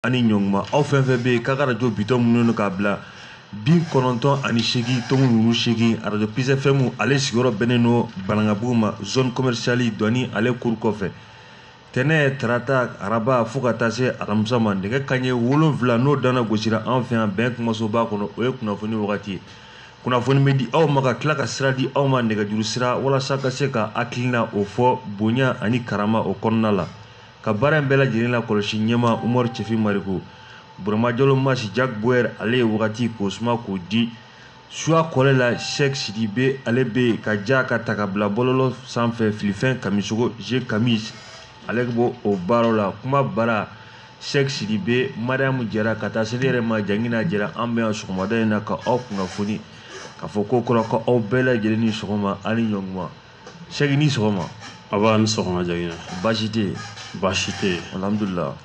ani ɲɔnguma aw fɛn fɛn bɛ yen k'a ka arajo bitɔn mununen don k'a bila bi kɔnɔntɔn ani seegin tɔmu wuru seegin arajo Peace FM ale sigiyɔrɔ bɛnnen don banankabugu ma zone commerciale dɔni ale kuru kɔfɛ tɛnɛ tarata araba fo ka taa se alamisa ma nɛgɛ kanɲɛ wolonfila n'o danna gosira an fɛ yan bɛn kumasoba kɔnɔ o ye kunnafoni wagati ye kunnafoni bɛ di aw ma ka tila ka sira di aw ma nɛgɛjuru sira walasa ka se ka hakilinaw fɔ bonya ani karama o kɔnɔna la ka baara in bɛɛ lajɛlen la kɔlɔsi ɲɛma umaru cɛfin mariko burama jalo masi jack bauer ale ye wagati k'o suma k'o di suya kɔlɛ la sɛk sidibe ale bɛ ka ja ka ta ka bila bɔlɔlɔ sanfɛ filifin kamisɔkɔ je kamis ale b'o baaraw la kuma bara sɛk sidibe mariyamu jara ka taa se ne yɛrɛ ma jangina jara an bɛ yan sɔgɔmada in na ka aw kunnafoni k'a fɔ kokura ko aw bɛɛ lajɛlen ni sɔgɔma ani ɲɔnguma Sɛki ni sɔgɔma nba i ni sɔgɔma jangina baasi tɛ yen baasi tɛ yen alihamudulila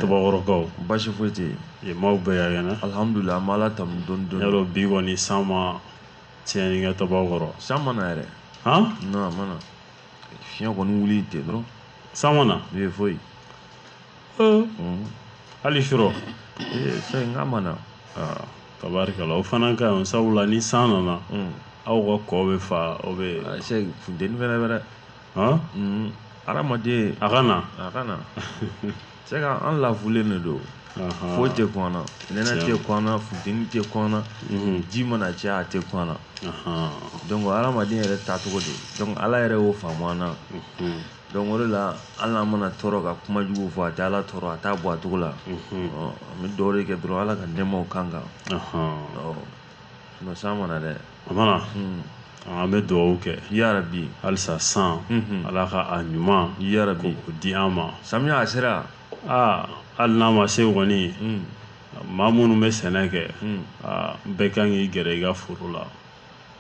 tabakɔrɔkaw baasi foyi tɛ yen maaw bɛɛ ka kɛnɛ alihamudulila an bɛ Ala tanu dɔɔni dɔɔni y'a dɔn bi kɔni san ma tiɲɛni kɛ tabakɔrɔ san ma na yɛrɛ han non a ma na fiɲɛ kɔni wuli ten dɔrɔn san ma na ee foyi hali surɔ ee sɛki n k'a ma na Tabarikala o fana ka ɲi sabula ni san nana aw ka kɔ bɛ fa aw bɛ funteni fɛnɛ bɛ dɛ hadamaden a ka na a ka na sɛki an lafulen de don foyi tɛ kun an na nɛnɛ tɛ kun an na funteni tɛ kun an na ji mana caya a tɛ kun an na donc hadamaden yɛrɛ taacogo de donc Ala yɛrɛ y'o faamu an na Donc o de la hali n'an mana tɔɔrɔ ka kuma jugu fɔ a tɛ Ala tɔɔrɔ a t'a bɔ a cogo la, unhun, ɔ an bɛ dugawu de kɛ dɔrɔn Ala ka nɛɛmaw k'an kan, ɔnhɔn, ɔ sinon san ma na dɛ, a ma na, un, an bɛ dugawu kɛ yarabi halisa san, unhun, Ala ka a ɲuman yarabi k'o di an ma, samiya a sera, aa hali n'a ma se kɔni, un, maa minnu bɛ sɛnɛ kɛ, un, aa bɛɛ ka kan k'i gɛrɛ i ka foro la,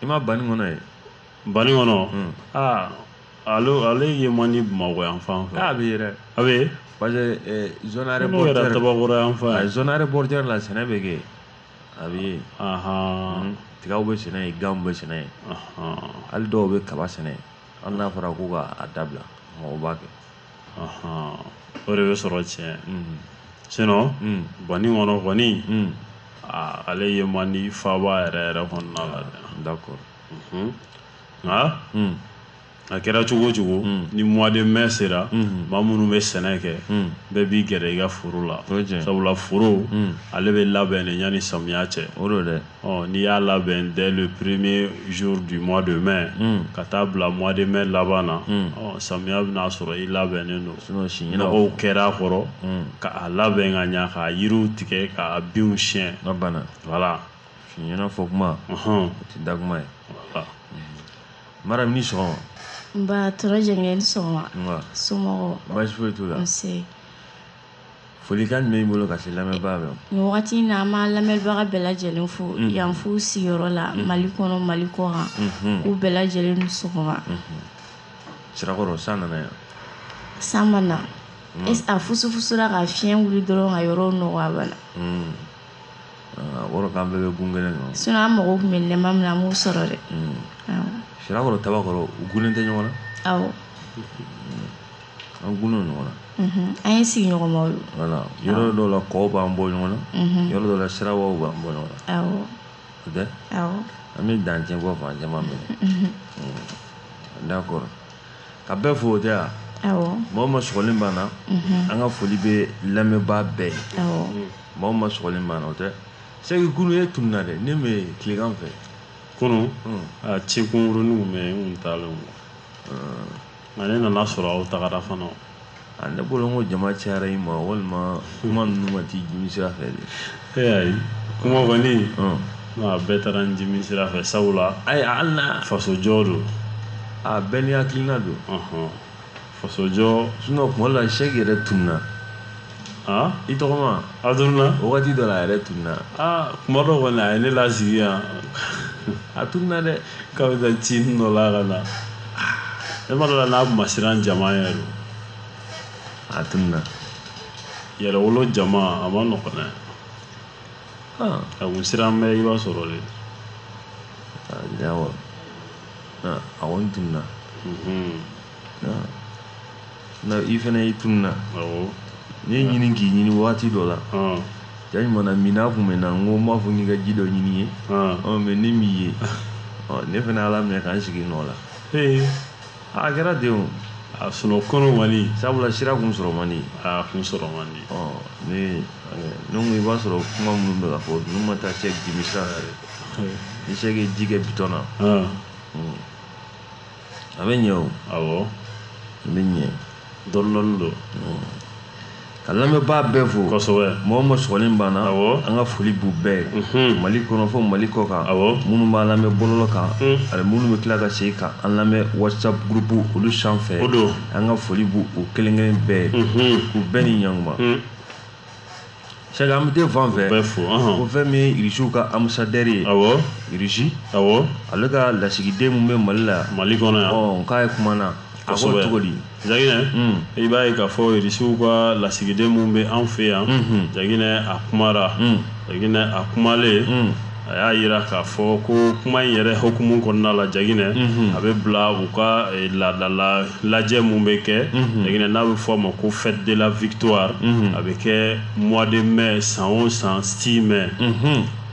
i ma banikɔnɔ ye Banikɔnɔ aa ale ale ye man di bamakɔ yan fan fɛ a bɛ yen dɛ a bɛ parce que zone aéroportuaire n'o kɛra tabakɔrɔ yan fan ye zone aéroportuaire la sɛnɛ bɛ kɛ a bɛ yen tigaw bɛ sɛnɛ yen ganw bɛ sɛnɛ yen hali dɔw bɛ kaba sɛnɛ hali n'a fɔra ko k'a dabila mɔgɔw b'a kɛ o de bɛ sɔrɔ tiɲɛ sinon banikɔnɔ kɔni ale ye man di faaba yɛrɛ yɛrɛ kɔnɔna la d'accord a kɛra cogo o cogo ni mois de mai sera maa minnu bɛ sɛnɛ kɛ bɛɛ b'i gɛrɛ i ka foro la sabula foro ale bɛ labɛn de yanni samiya cɛ o dɛ n'i y'a labɛn dès le premier jour du mois de mai ka taa bila mois de mai laban na samiya bɛn'a sɔrɔ i labɛnnen don nɔgɔw kɛra a kɔrɔ k'a labɛn ka ɲa k'a yiriw tigɛ k'a binw siyɛn voilà fiɲɛna fɔ kuma o tɛ da kuma ye mara ni sɔgɔma nba tɔrɔ jɛngɛ ni sɔgɔma nba somɔgɔw baasi foyi t'u la nse folikan jumɛn b'i bolo ka se lamɛnbaga bɛɛ ma wagati in na an b'an lamɛnbaga bɛɛ lajɛlen fo yan f'u sigiyɔrɔ la mali kɔnɔ mali kɔkan k'u bɛɛ lajɛlen ni sɔgɔma sirakɔrɔ san nana yan san ma na a fusufusura ka fiɲɛ wuli dɔrɔn ka yɔrɔ nɔgɔ a bana O kɔrɔ k'an bɛɛ bɛ gun kelen kan sinon an mago tun bɛ nɛma min na an m'o sɔrɔ dɛ sirakɔrɔ tabakɔrɔ u gunnen tɛ ɲɔgɔn na an gunnen ɲɔgɔn na an ye sigiɲɔgɔnmaw ye yɔrɔ dɔw la kɔ b'an bɔ ɲɔgɔn na yɔrɔ dɔ la siraba b'an bɔ ɲɔgɔn na o tɛ an bɛ dancɛ bɔ fan caman minɛ d'accord ka bɛɛ fo o tɛ wa mɔgɔ ma sɔgɔlen banna an ka foli bɛ lamɛnba bɛɛ ye mɔgɔ ma sɔgɔlen banna o tɛ sɛki kunun e tununna dɛ ne bɛ tilegan fɛ kunun a ci kunkurunninw bɛ n kun taalen nka ne nana sɔrɔ aw tagara fana A ne bolo ko jama cayara i ma walima kuma ninnu ma t'i dimi sira fɛ de ee ayi kuma kɔni a bɛɛ taara n dimi sira fɛ sabula ayi hali n'a fasojɔ don a bɛɛ n'i hakilina don fasojɔ sinon kuma la sɛki yɛrɛ tununna Aa i tɔgɔma a tununna wagati dɔ la a yɛrɛ tununna aa kuma dɔ kɔni a ye ne lasigi yan a tununna dɛ k'a bɛ taa ci dɔ la ka na ne ma d'o la n'a ma siran jama yɛrɛ don a tununna yɛrɛwolo jama a ma nɔgɔn dɛ a kun siran bɛ i b'a sɔrɔ de a kɔni tununna Na i fana y'i tununna n y'i ɲini k'i ɲini waati dɔ la ja ɲuman minnɔgɔ tun bɛ n na n ko n b'a fɔ n k'i ka ji dɔ ɲini ye mais ne m'i ye ne fana ala minɛ k'an sigi nɔ la a kɛra ten a sɔrɔ kɔni man di sabula sira kun sɔrɔ man di a kun sɔrɔ man di ne i b'a sɔrɔ kuma minnu bɛ fɔ n'u ma taa sɛki dimi sira yɛrɛ ni sɛki ye ji kɛ bidɔn na a bɛ ɲɛ o awɔ a bɛ ɲɛ dɔɔnin dɔɔnin don ka lamɛnbaa bɛɛ fo kosɛbɛ mɔgɔ ma sɔgɔlen banna awɔ an ka foli b'u bɛɛ ye mhm. mali kɔnɔ fo mali kɔkan awɔ minnu b'an lamɛn bɔlɔlɔ kan mhm. ani minnu bɛ tila ka segin ka an lamɛn whatsapp gurupu olu sanfɛ o don an ka foli b'u u kelen kelen bɛɛ ye mhm. k'u bɛɛ ni ɲankuma Sariya an bɛ t'i fan fɛ ko fɛn min ye irisiw ka ambassadeur ye irisi ale ka lasigiden min bɛ mali la mali kɔnɔ yan k'a ye kuma na a sɔrɔ cogo di jaginɛ i b'a ye k'a fɔ irisiw ka lasigiden min bɛ an fɛ yan jaginɛ a kumara jaginɛ a kumalen a y'a jira k'a fɔ ko kuma in yɛrɛ hukumu kɔnɔna la jaginɛ mhm. a bɛ bila u ka eh, laadala lajɛ min bɛ kɛ mhm. jaginɛ n'a bɛ fɔ a ma ko fête de la victoire mhm. a bɛ kɛ mois de mai san o san 6 mai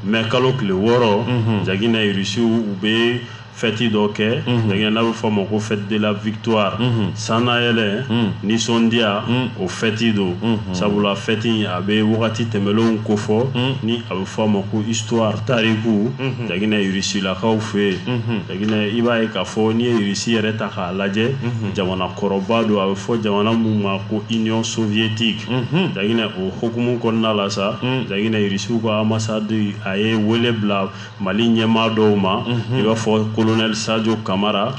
mai kalo tile wɔɔrɔ jaginɛ irisiw u bɛ fɛti dɔ kɛ jaginɛ n'a bɛ fɔ a ma ko fête de la victoire sannayɛlɛ nisɔndiya o fɛti don sabula fɛti a bɛ wagati tɛmɛlenw kofɔ ni a bɛ fɔ a ma ko histoire tariku jaginɛ irisilakaw fɛ yen jaginɛ i b'a ye k'a fɔ n'i ye irisi yɛrɛ ta k'a lajɛ jamana kɔrɔba don a bɛ fɔ jamana min ma ko union soviétique jaginɛ o hukumu kɔnɔna la sa jaginɛ irisiw ka ambassade a ye wele bila Mali ɲɛmaa dɔw ma i b'a fɔ colonel sajo kamara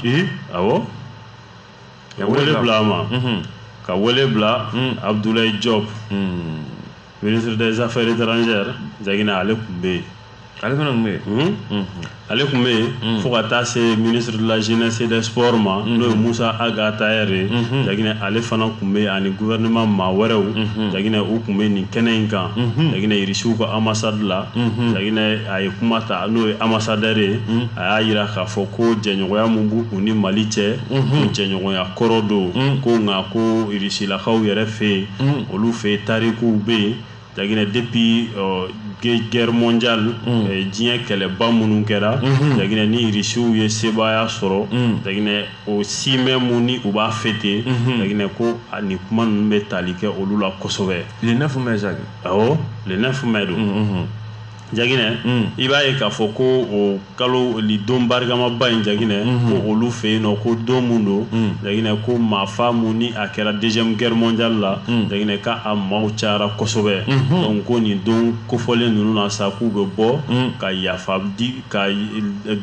awɔ ka wele bila a ma ka wele bila abudulayi jɔpu ministre des affaires étrangères jaginɛ ale tun bɛ yen ale fana tun bɛ yen ale tun bɛ yen fo ka taa se ministre de la jeunesse et des sports ma n'o ye musa ag attaher ye jaginɛ ale fana tun bɛ yen ani gouvernement maa wɛrɛw jaginɛ u tun bɛ nin kɛnɛ in kan jaginɛ irisiw ka ambassade la a ye kuma ta n'o ye ambassadeur ye a y'a jira k'a fɔ ko jɛɲɔgɔnya min b'u ni mali cɛ ko jɛɲɔgɔnya kɔrɔ don ko nka ko irisilakaw yɛrɛ fɛ yen olu fɛ yen tarikuw bɛ yen jaginɛ depuis guerre mondiale diɲɛ kɛlɛba minnu kɛra jaginɛ ni irisiw ye sebaaya sɔrɔ jaginɛ o 6 mai min ni u b'a fêter jaginɛ ko ani kuma ninnu bɛ tali kɛ olu la kosɛbɛ le 9 mai jaki awɔ le 9 mai don mm, mm, jaginɛ mm. i b'a ye k'a fɔ ko o kalo li don barikamaba in jaginɛ mm-hmm. ko olu fɛ yen nɔ ko don mun don mm. jaginɛ ko maafa mun ni a kɛra deuxième guerre mondiale la mm. jaginɛ ka a maaw cayara kosɛbɛ mm-hmm. donc ko nin don kofɔlen ninnu na sa k'u bɛ bɔ mm. ka yafa di ka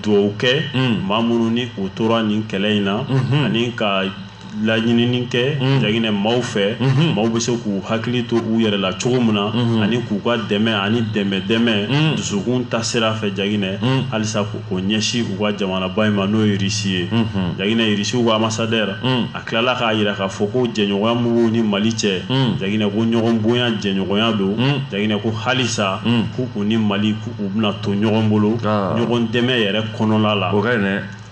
dugawu kɛ mm. maa minnu ni u tora nin kɛlɛ in na mm-hmm. ani ka laɲinini kɛ mm. jaginɛ maaw fɛ mm-hmm. maaw bɛ se k'u hakili to u yɛrɛ la cogo min na mm-hmm. ani k'u ka dɛmɛ ani dɛmɛ dɛmɛ mm. dusukun ta sira fɛ jaginɛ mm. halisa k'o ɲɛsin u ka jamanaba in ma n'o ye irisi ye mm-hmm. jaginɛ irisiw ka ambassadeur a tilala k'a yira k'a fɔ ko jɛɲɔgɔnya min b'u ni mali cɛ jaginɛ ko ɲɔgɔn bonya jɛɲɔgɔnya don jaginɛ ko halisa k'u ni mali k'u bɛna to ɲɔgɔn bolo ah. ɲɔgɔn dɛmɛ yɛrɛ kɔnɔla la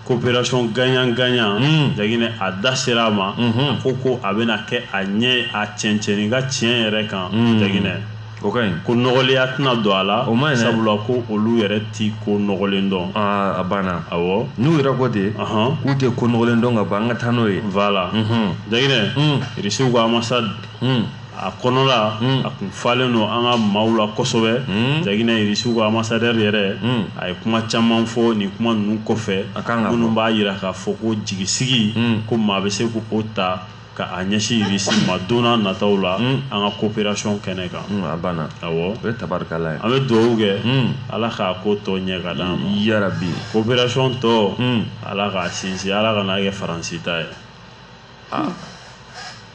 coopération gagnant gagnant mm. Jaginɛ a da sera a ma mm -hmm. a ko ko a bɛna kɛ a ɲɛ a cɛncɛnni ka tiɲɛ yɛrɛ kan mm. Jaginɛ o ka ɲi ko nɔgɔlenya tɛna don a la o ma ɲi sabula ko olu yɛrɛ ti ko nɔgɔlen dɔn aa a banna awɔ n'u yɛrɛ ko ten k'u tɛ ko nɔgɔlen dɔn ka ban an ka taa n'o ye voilà Jaginɛ irisiw ka ambassade a kɔnɔla hmm. a kun falen don an ka maaw la kosɛbɛ hmm. jaginɛ irisiw ka ambassadeur yɛrɛ hmm. a ye kuma caman fɔ nin kuma ninnu kɔfɛ minnu b'a yira k'a fɔ ko jigisigi ko maa bɛ se k'o ta ka a ɲɛsin irisi ma don nataw la an ka coopération kɛnɛ kan a banna awɔ o ye tabarikala ye an bɛ dugawu kɛ ala k'a ko tɔ ɲɛ ka d'an ma yarabi coopération tɔ ala k'a sinsin ala kana kɛ faransi ta ye ah.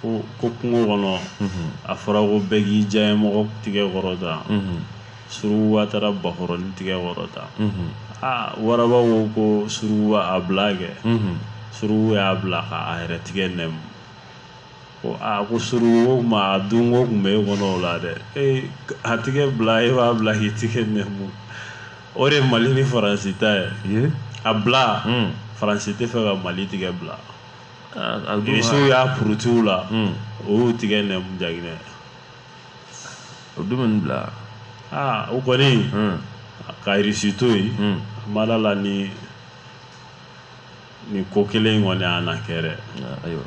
ko ko kungo kɔnɔ a fɔra ko bɛɛ k'i diyanyemɔgɔ tigɛ kɔrɔta surukuba taara bakɔrɔni tigɛ kɔrɔta aa waraba ko ko suruku a bila kɛ suruku y'a bila ka a yɛrɛ tigɛ nɛmu ko aa ko surukuba a dunko kun bɛ e kɔnɔ o la dɛ ee a tigɛ bila e b'a bila k'i tigɛ nɛmu o de ye mali ni faransi ta ye a bila faransi tɛ fɛ ka mali tigɛ bila irisiw y'a poroti u la o y'u tigɛ nɛmu jaginɛ o don bɛ nin bila aa o kɔni ka irisi to yen ma da a la ni nin ko kelen in kɔni y'a na kɛ dɛ ayiwa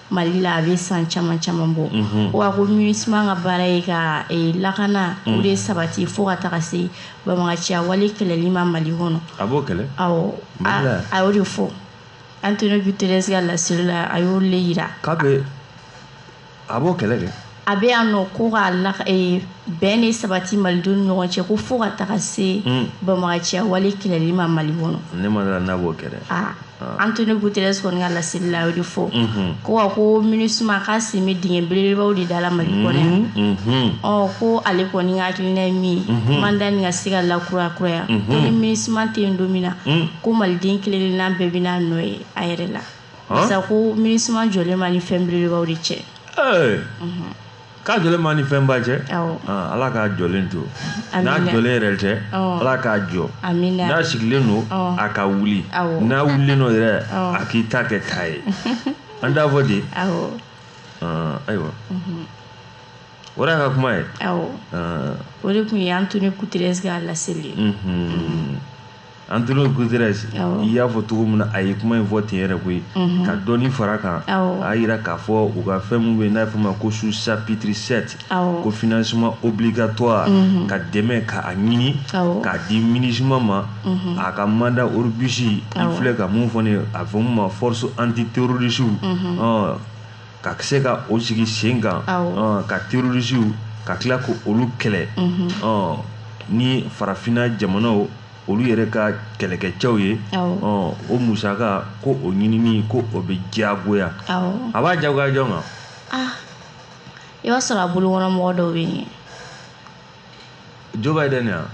Mali la a bɛ san caman caman bɔ wa ko MINUSMA ka baara ye ka lakana o de sabati fo ka taga se banbagaciya wale kɛlɛli ma mali kɔnɔ a b'o kɛlɛ a y'o de fɔ Antonio Guterres ka laseli la a y'o le yira k'a bɛ a b'o kɛlɛ kɛ a bɛ yan nɔ ko ka la ee, bɛn de sabati malidenw ni ɲɔgɔn cɛ ko fo ka taga se hmm. banbagaciya wale kɛlɛli ma mali kɔnɔ ne ma da a la n'a b'o kɛ dɛ ah. Antonio Guterres kɔni ka laseli la a y'o de fɔ mhm. ko wa ko MINUSMA k'a sen bɛ dingɛ belebelebaw de da la Mali mhm. kɔnɔ yan mhm. ɔ ko ale kɔni ka hakilina ye min ye mandat nin ka se ka lakurakuraya ko ni MINUSMA tɛ yen don min na ko Maliden kelen-kelenna bɛɛ bɛna a nɔ ye a yɛrɛ la sa ko MINUSMA jɔlen b'a ni fɛn belebelebaw de cɛ k'a jɔlen b'a ni fɛnba cɛ ala k'a jɔlen to n'a jɔlen yɛrɛ tɛ ala k'a jɔ n'a sigilen don a ka wuli n'a wulilen don yɛrɛ a k'i ta kɛ ta ye an t'a fɔ de ayiwa o de y'a ka kuma ye o de tun ye Antonio Guterres ka laseli ye Antonio Guterres i y'a fɔ cogo min na a ye kuma in fɔ ten yɛrɛ koyi ka dɔɔni fara kan a y'a jira k'a fɔ u ka fɛn minnu bɛ n'a fɔ ma ko sous chapitre sept ko financement obligatoire ka dɛmɛ k'a ɲini k'a di MINUSMA ma a ka mandat robuste i filɛ ka mun fɔ n'a fɔ min ma force antiterroriste ka se ka o sigi sen kan ka terrorisiw ka tila ko olu kɛlɛ mhm. ni farafinna jamanaw olu yɛrɛ ka kɛlɛkɛcɛw ye o musaka ko o ɲinini ko o bɛ diyagoya a b'a diyagoya jɔn kan ah, i b'a sɔrɔ a bolo kɔnɔ mɔgɔ dɔw bɛ yen Joe Biden yan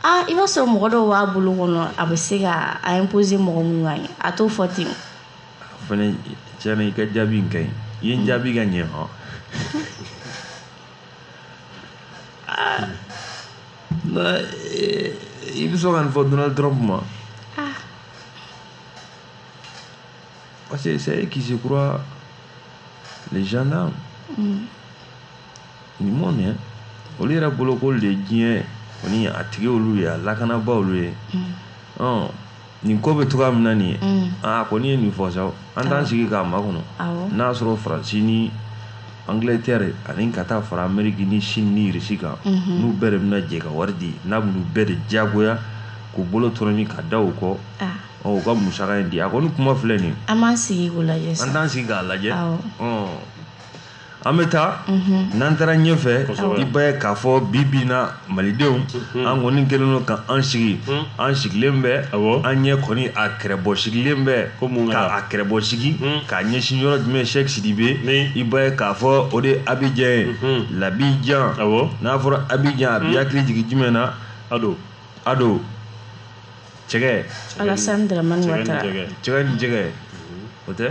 ah i b'a sɔrɔ mɔgɔ dɔw b'a bolo kɔnɔ a bɛ se ka a imposer mɔgɔ minnu kan a t'o fɔ ten Fana tiɲɛ na i ka jaabi in ka ɲi i ye n jaabi ka ɲɛ hɔn i bɛ sɔn ka nin fɔ Donald Trump ma parce que c'est eux qui se croient les gendarmes du monde hein olu yɛrɛ bolo ko olu de ye diɲɛ kɔni a tigi olu ye a lakanabaa olu ye ɔn nin ko bɛ cogoya min na nin ye mm. aa a kɔni ye nin fɔ sa an t'an sigi k'a makɔnɔ n'a y'a sɔrɔ faransi ni angilɛtɛri ani ka taa fara ameriki ni sini ni irisi kan mhm. n'u bɛɛ de bɛna jɛ ka wari di n'a b'u bɛɛ de diyagoya k'u bolo tɔrɔmi ka da u kɔ ah. u ka musaka in di a kɔni kuma filɛ nin an b'an sigi k'o lajɛ an t'an sigi k'a lajɛ an bɛ taa mhm. n'an taara ɲɛfɛ i b'a ye k'a fɔ bi bi in na malidenw mhm. an kɔni kɛlen don ka an sigi mhm. an sigilen bɛ an ɲɛ kɔni a kɛrɛbɔ sigilen bɛ ka a kɛrɛbɔ sigi k'a ɲɛsin yɔrɔ jumɛn sɛki sidibe i b'a ye k'a fɔ o de abijan ye labijan n'a fɔra abijan a b'i hakili jigin jumɛn na ado ado cɛgɛ alasani daramani watara cɛgɛ ni jɛgɛ o tɛ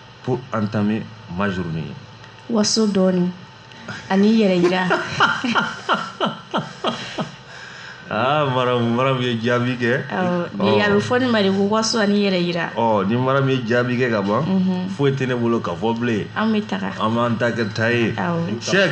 pour entamer ma journée waso dɔɔni ani yɛrɛ yira aa ah, maramu maramu ye jaabi kɛ a bɛ fɔ nin ma de ko waso ani yɛrɛ yira ɔ ni maramu ye jaabi kɛ ka ban mhm. foyi tɛ ne bolo ka fɔ bilen an bɛ taga an b'an ta kɛ ta ye sɛk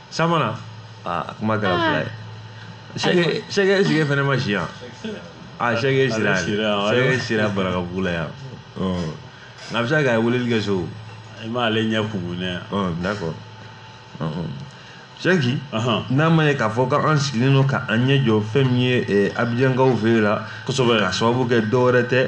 San ma na aa a kuma kɛra fila ye Sɛki- Sɛki Sɛki fɛnɛ ma si yan a Sɛki sira Ale sira, ale- Sɛki sira barakabugu la yan Ɔ, nka a bɛ se ka kɛ a ye weleli kɛ so i m'ale ɲɛ kumunɛ yan Ɔ, d'accord Ɔ, ɔ. sɛki Ahan. n'a ma ye k'a fɔ k'an sigilen don k'an ɲɛ jɔ fɛn min ye eh, abijankaw fɛ yen la kosɛbɛ k'a sababu kɛ dɔwɛrɛ tɛ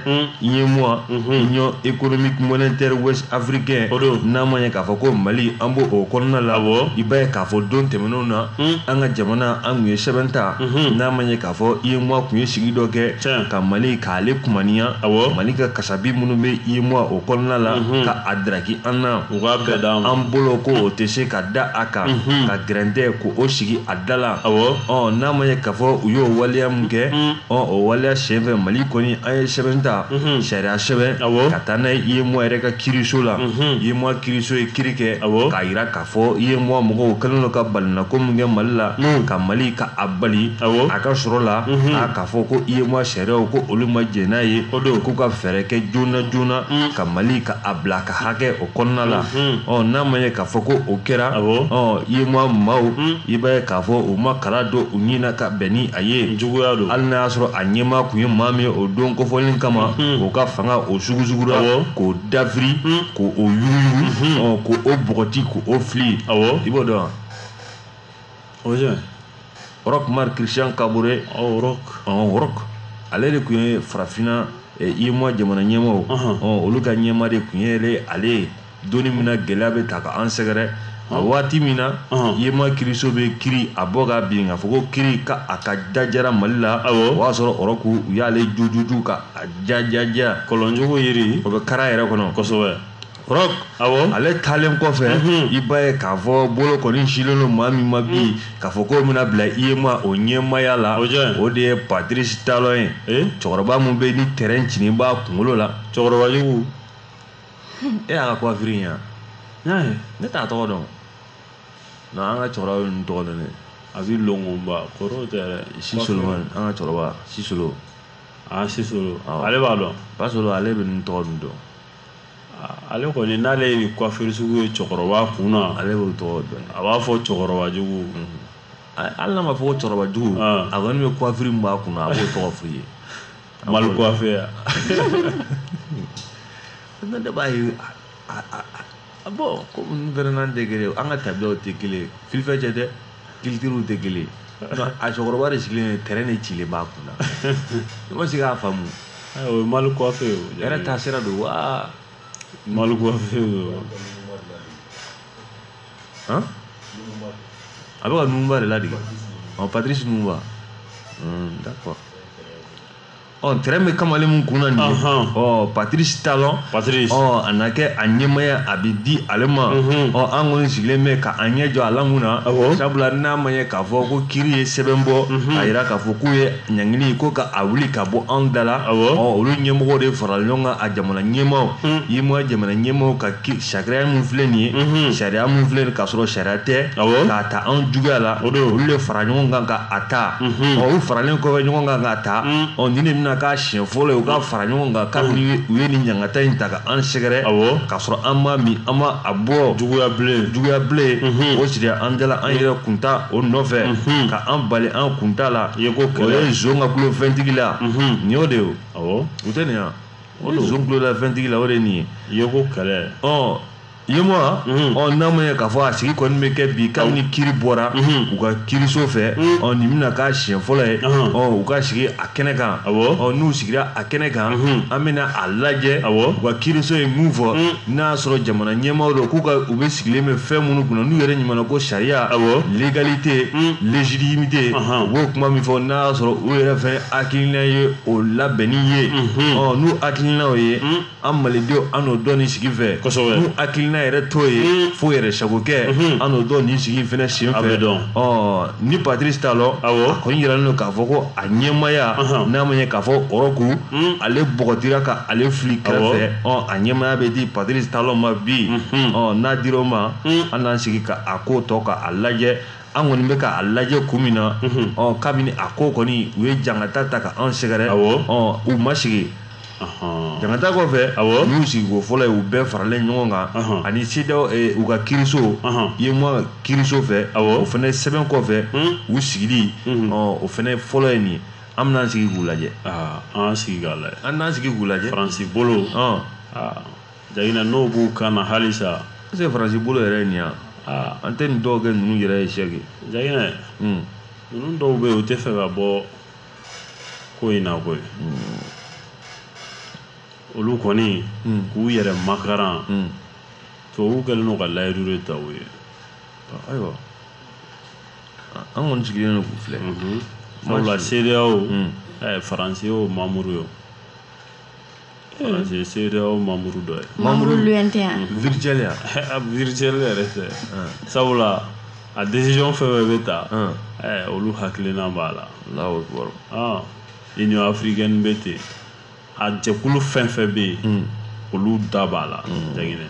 UEMOA Union économique monétaire ouest africain o don n'a ma ye k'a fɔ ko Mali an b'o o kɔnɔna la awɔ i b'a ye k'a fɔ don tɛmɛnenw na an ka jamana an tun ye sɛbɛn ta n'a ma ye k'a fɔ UEMOA tun ye sigi dɔ kɛ tiɲɛ ka Mali k'ale kumaniya awɔ Mali ka kasabi minnu bɛ UEMOA o kɔnɔna la ka a daraki an na u k'a bɛɛ d'an ma an bolo ko o tɛ se ka da a kan ka gɛrɛntɛko o sigi a da la awɔ ɔ n'a ma ye k'a fɔ u y'o waleya min kɛ ɔ o waleya senfɛ mali kɔni an ye sɛbɛn ta sariya sɛbɛn ka taa n'a ye UEMOA yɛrɛ ka kiriso la UEMOA kiriso ye kiri kɛ k'a yira k'a fɔ UEMOA mɔgɔw kɛlen don ka balinako min kɛ mali la ka mali ka a bali a ka sɔrɔ la a k'a fɔ ko UEMOA sariyaw ko olu ma jɛn n'a ye k'u ka fɛɛrɛ kɛ joona joona ka mali ka a bila ka hakɛ o kɔnɔna la ɔ n'a ma ye k'a fɔ ko o kɛra ɔ UEMOA maaw i b'a ye k'a fɔ u ma kala don u ɲin na ka bɛn ni a ye juguya don hali n'a y'a sɔrɔ a ɲɛmaa tun ye maa min ye o don kofɔlen kama o ka fanga o sugusugura k'o dafiri k' o yuguyugu ɔ k' o bɔgɔti k' o fili i b'o dɔn wa O ye Roch Marc Christian Kabore oh, Roch oh, Roch ale de tun ye farafinna eh, UEMOA jamana ɲɛmaaw oh, olu ka ɲɛmaa de tun ye ale ye donni min na gɛlɛya bɛ ta ka an sɛgɛrɛ a waati min na UEMOA kiriso bɛ kiri a bɔ ka bin k'a fɔ ko kiri ka a ka jajara Mali la o y'a sɔrɔ Roch u y'ale jujuju ka a jajaja kɔlɔnjugu yiri o bɛ kari a yɛrɛ kɔnɔ kosɛbɛ Roch awɔ ale taalen kɔfɛ mhm. i b'a ye k'a fɔ bolo kɔni silen don maa min ma bi mhm. k'a fɔ k'o bɛna bila UEMOA o ɲɛmaaya la o de ye Patrice Talon ye eh? cɛkɔrɔba min bɛ ni terrain cinin b'a kunkolo la cɛkɔrɔba jugu e y'a ka coiffure in yan n y'a ye ne t'a tɔgɔ dɔn non an ka cɛkɔrɔba bɛ ninnu tɔgɔ dɔn dɛ a bɛ longonba kɔrɔw tɛ yɛrɛ Sisolomani an ka cɛkɔrɔba Sisolo aa Sisolo ale b'a dɔn Basolo ale bɛ ninnu tɔgɔ ninnu dɔn Ale kɔni n'ale ye nin coiffure sugu ye cɛkɔrɔba kun na, ale b'o tɔgɔ dɔn, a b'a fɔ cɛkɔrɔbajugu, unhun, hali n'a ma fɔ ko cɛkɔrɔbajugu, an, a kɔni bɛ coiffure min b'a kun na a b'o tɔgɔ f'i ye, mal coiffé A bon komi n fɛnɛ an tɛ kelen an ka tabiyaw tɛ kelen fifɛ cɛ dɛ kilitiriw tɛ kelen a cɛkɔrɔba de sigilen tɛrɛn de cilen b'a kun na i ma se k'a faamu o mali coiffure yɛrɛ taa sira don wa mali a bɛ ka Lumumba de ladege Patrice Lumumba d'accord ɔ ntɛrɛn bɛ kamalen min kun na nin ye ɔ patirisi talɔn ɔ a na kɛ a ɲɛmaya a bɛ di ale ma ɔ an kɔni sigilen bɛ ka an ɲɛ jɔ a la mun na sabula n'a ma ye k'a fɔ ko kiri ye sɛbɛn bɔ a yira k'a fɔ k'u ye ɲangili ko ka a wuli ka bɔ anw da la ɔ olu ɲɛmɔgɔw de farala ɲɔgɔn kan a jamana ɲɛmaaw UEMOA jamana ɲɛmaaw ka sariya min filɛ nin ye mhm. sariya min filɛ nin k'a sɔrɔ sariya tɛ k'a ta anw juguya la olu de fara ɲɔgɔn kan ka a ta mhm. ɔ u faralen kɔfɛ ɲɔgɔn kan k'a ta mhm. ɔ nin de bɛna k'a siɲɛ fɔlɔ ye u ka fara ɲɔgɔn kan kabini u ye nin ɲangata in ta ka an sɛgɛrɛ k'a sɔrɔ an ma min an ma a bɔ juguya bilen o siri an dala an yɛrɛ kunta o nɔfɛ ka an bali an kunta la o ye zon ka kulo fɛntigi la nin y'o de ye o tɛ nin yan o don zon kulola fɛntigi la o de ye nin ye ko kɛlɛ ɔ UEMOA mhm. ɔ n'a ma ɲɛ k'a fɔ a sigi kɔni bɛ kɛ bi kabini kiri bɔra mhm. u ka kiriso fɛ mhm. ɔ nin bɛna k'a siɲɛ fɔlɔ ye ɔ u ka sigi a kɛnɛ kan ɔ n'u sigira a kɛnɛ kan an bɛna a lajɛ u ka kiriso ye mun fɔ n'a y'a sɔrɔ jamana ɲɛmaaw don k'u ka u bɛ sigilen bɛ fɛn minnu kunna n'u yɛrɛ ɲumanna ko sariya légalité légitimité u b'o kuma min fɔ n'a y'a sɔrɔ u yɛrɛ fɛnɛ hakilina ye o labɛnni ye n'u hakilinaw ye an malidenw an n'o dɔn nin sigi fɛ n'u hakilina yɛrɛ t'o ye fo yɛrɛ sagokɛ an n'o dɔn nin sigi fɛnɛ sen fɛ ni patirisi talɔn a kɔni jiralen don k'a fɔ ko a ɲɛmaya n'a ma ye k'a fɔ ɔrɔku ale bɔgɔtira ka ale fili kɛrɛfɛ a ɲɛmaya bɛ di patirisi talɔn ma bi n'a dir' o ma an n'an sigi k'a ko tɔ k'a lajɛ an kɔni bɛ k'a lajɛ kun min na ɔ kabini a ko kɔni u ye jangata ta ka an sɛgɛrɛ ɔ u ma sigi jangata kɔfɛ nin y'u sigiko fɔlɔ ye u bɛɛ faralen ɲɔgɔn kan ani CEDEAO u ka kiriso UEMOA kiriso fɛ o fɛnɛ sɛbɛn kɔfɛ u sigili ɔ o fɛnɛ fɔlɔ ye nin ye an bɛn'an sigi k'u lajɛ an n'an sigi k'u lajɛ Faransi bolo Jagina n'o b'u kan na halisa est ce que faransi bolo yɛrɛ ye nin yan aa an tɛ nin dɔw kɛ ninnu yɛrɛ ye sɛki jagina hmm. ninnu dɔw bɛ yen u tɛ fɛ ka bɔ ko in na koyi hmm. olu kɔni hmm. k'u yɛrɛ makaran tubabuw kɛlen don ka layidu de ta u ye ayiwa an kɔni sigilen don k'u filɛ mhm. sabula CEDEAO faransi y'o mamuru ye faransi ye CEDEAO mamuru dɔ ye mamuru lointain virtuel ya a virtuel yɛrɛ tɛ sabula a décision fɛn fɛn bɛ ta Hum. eh, olu hakilina b'a la Allahu Akbar. Ah, union africaine bɛ ten a jɛkulu fɛn fɛn bɛ yen olu da b'a la jaginɛ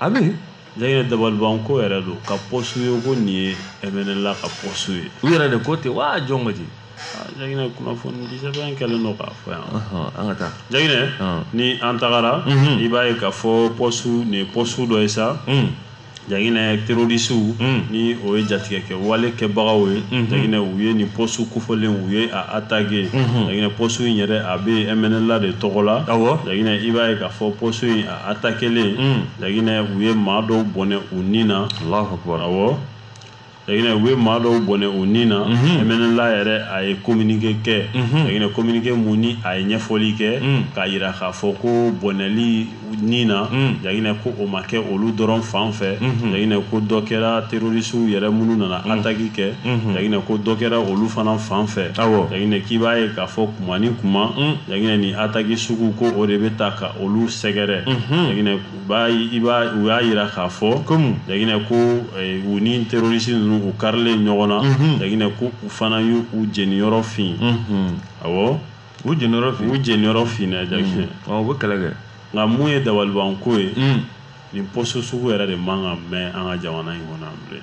a bɛ yen jaginɛ dabalibanko yɛrɛ don ka pɔsu ye ko nin ye ɛmɛnɛla ka pɔsu ye u yɛrɛ de ko ten waa jɔn ko ten jaginɛ kunnafoni di sɛbɛn kɛlen don k'a fɔ yan an ka taa jaginɛ ni an tagara i b'a ye k'a fɔ pɔsu nin ye pɔsu dɔ ye sa jaginɛ terorisiw ni o ye jatigɛ kɛ wale kɛbagaw ye jaginɛ u ye nin pɔsu kofɔlen u ye a atake jaginɛ pɔsu in yɛrɛ a bɛ ɛmɛnɛla de tɔgɔ la jaginɛ i b'a ye k'a fɔ pɔsu in atakelen hmm. jaginɛ u ye maa dɔw bɔnɛ u ni na awɔ jaginɛ u ye maa dɔw bɔnɛ u ni na hmm. ɛmɛnɛla yɛrɛ a ye kominike kɛ hmm. jaginɛ kominike mun ni a ye ɲɛfɔli kɛ k'a yira k'a fɔ ko bɔnɛli ni na jaginɛ ko o ma kɛ olu dɔrɔn fan fɛ jaginɛ ko dɔ kɛra terorisiw yɛrɛ minnu nana ataki kɛ jaginɛ ko dɔ kɛra olu fana fan fɛ awɔ jaginɛ k'i b'a ye k'a fɔ kuma ni kuma jaginɛ ni ataki sugu ko o de bɛ ta ka olu sɛgɛrɛ u y'a yira k'a fɔ kɔmi jaginɛ ko u ni terorisi ninnu u karilen ɲɔgɔn na jaginɛ ko u fana y'u jeniyɔrɔ fin awɔ u jeniyɔrɔ fin u bɛ kɛlɛ kɛ nka mun ye dabalibanko ye nin pɔsu sugu yɛrɛ de man kan mɛ an ka jamana in kɔnɔ bilen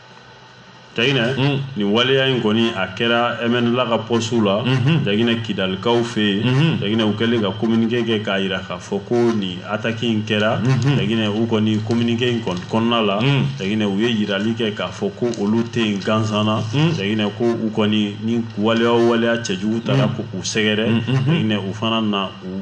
Jaginɛ mm. nin waleya in kɔni a kɛra MNLA ka pɔsu la mm-hmm. Jaginɛ Kidalikaw fɛ yen mm-hmm. Jaginɛ u kɛlen ka communiqué kɛ k'a yira k'a fɔ ko nin attaque in kɛra mm-hmm. Jaginɛ u kɔni communiqué in kɔni kɔnɔna la mm. Jaginɛ u ye yirali kɛ k'a fɔ ko olu tɛ yen gansan na mm. Jaginɛ ko u kɔni ni waleya o waleya cɛjugu taara k'u sɛgɛrɛ Jaginɛ u fana na u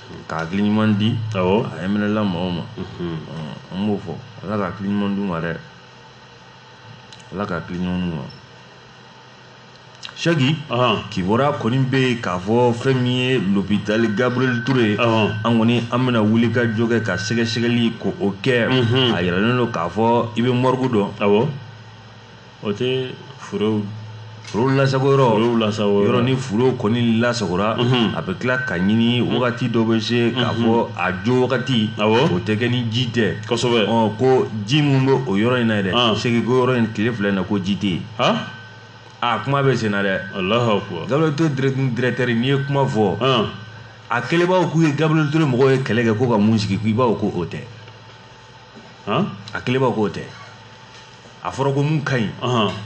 Ka hakili ɲuman di a ɛmɛnɛla mɔgɔw ma an b'o fɔ ala ka hakili ɲuman d'u ma dɛ ala ka hakili ɲuman d'u ma sɛki kibaru kɔni bɛ yen k'a fɔ fɛn min ye lopitali gabiriyɛli ture ye an kɔni an bɛna wuli ka jɔ kɛ ka sɛgɛsɛgɛli k'o kɛ a yiralen don k'a fɔ i bɛ morgue dɔn o tɛ furew furew lasago yɔrɔ furew lasago yɔrɔ ni furew kɔni lasagora a bɛ tila ka ɲini wagati dɔ bɛ se k'a fɔ a jo wagati o tɛ kɛ ni ji tɛ kosɛbɛ ko ji min bɛ o yɔrɔ in na dɛ sɛki ko yɔrɔ in tile fila in na ko ji tɛ yen aa kuma bɛ senna dɛ gabiriyɛli ture dirɛtɛri n'i ye kuma fɔ a kɛlenbaw k'u ye gabiriyɛli ture mɔgɔw ye kɛlɛ kɛ ko ka mun sigi k'i baw ko o tɛ a kɛlenbaw k'o tɛ a fɔra ko mun ka ɲi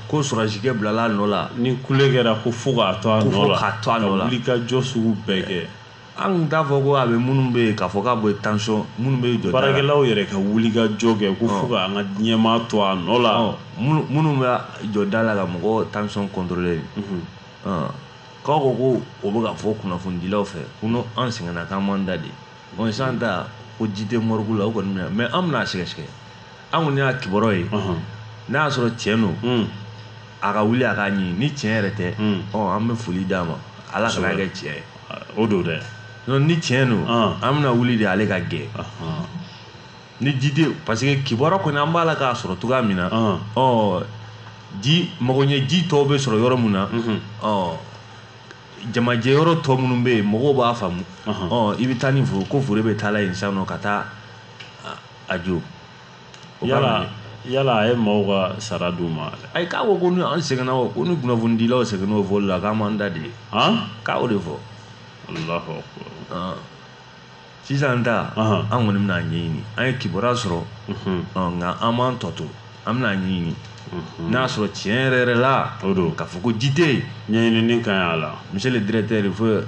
ko sɔrɔdasikɛ bilala a nɔ la ni kule kɛra ko fo k'a to a nɔ la k'a to a nɔ la ka wuli ka jɔ sugu bɛɛ kɛ an tun t'a fɔ ko a bɛ minnu bɛ yen k'a fɔ k'a bɛ tension minnu bɛ jɔ baarakɛlaw yɛrɛ ka wuli ka jɔ kɛ ko fo k'an ka ɲɛmaa to a nɔ la minnu bɛ jɔ da la ka mɔgɔ tension contrôler k'aw ko ko o bɛ ka fɔ kunnafonidilaw fɛ ko n'an sɛgɛnna k'an b'an da de Bon sisan ta ko ji tɛ morgue la o kɔni minɛ mais an bɛna sɛgɛsɛgɛ an kɔni y'a kibaruya ye n'a y'a sɔrɔ tiɲɛ don a ka wuli a k'a ɲini ni tiɲɛ yɛrɛ tɛ an bɛ foli d'a ma ala kana kɛ tiɲɛ ye o don dɛ ni tiɲɛ don an bɛna wuli de ale ka gɛn ni ji tɛ yen parce que kibaruya kɔni an b'a la k'a sɔrɔ cogoya min na ɔ ji mago ɲɛ ji tɔw bɛ sɔrɔ yɔrɔ min na ɔ jamajɛ yɔrɔ tɔ minnu bɛ yen mɔgɔw b'a faamu ɔ i bɛ taa ni fure ko fure bɛ taala yen sisan nɔ ka taa a jo yala yala a ye maaw ka sara d'u ma ayi k'a ko ko ni an sɛgɛnna o ko ni kunnafonidilaw sɛgɛnna o fɔli la k'an b'an da de k'a o de fɔ sisan ta an kɔni bɛna ɲɛɲini an ye kibaruya sɔrɔ nka an m'an tɔ to an bɛna ɲɛɲini n'a y'a sɔrɔ tiɲɛ yɛrɛ yɛrɛ la o don k'a fɔ ko ji tɛ yen ɲɛɲinini ka ɲi a la monsieur le directeur il faut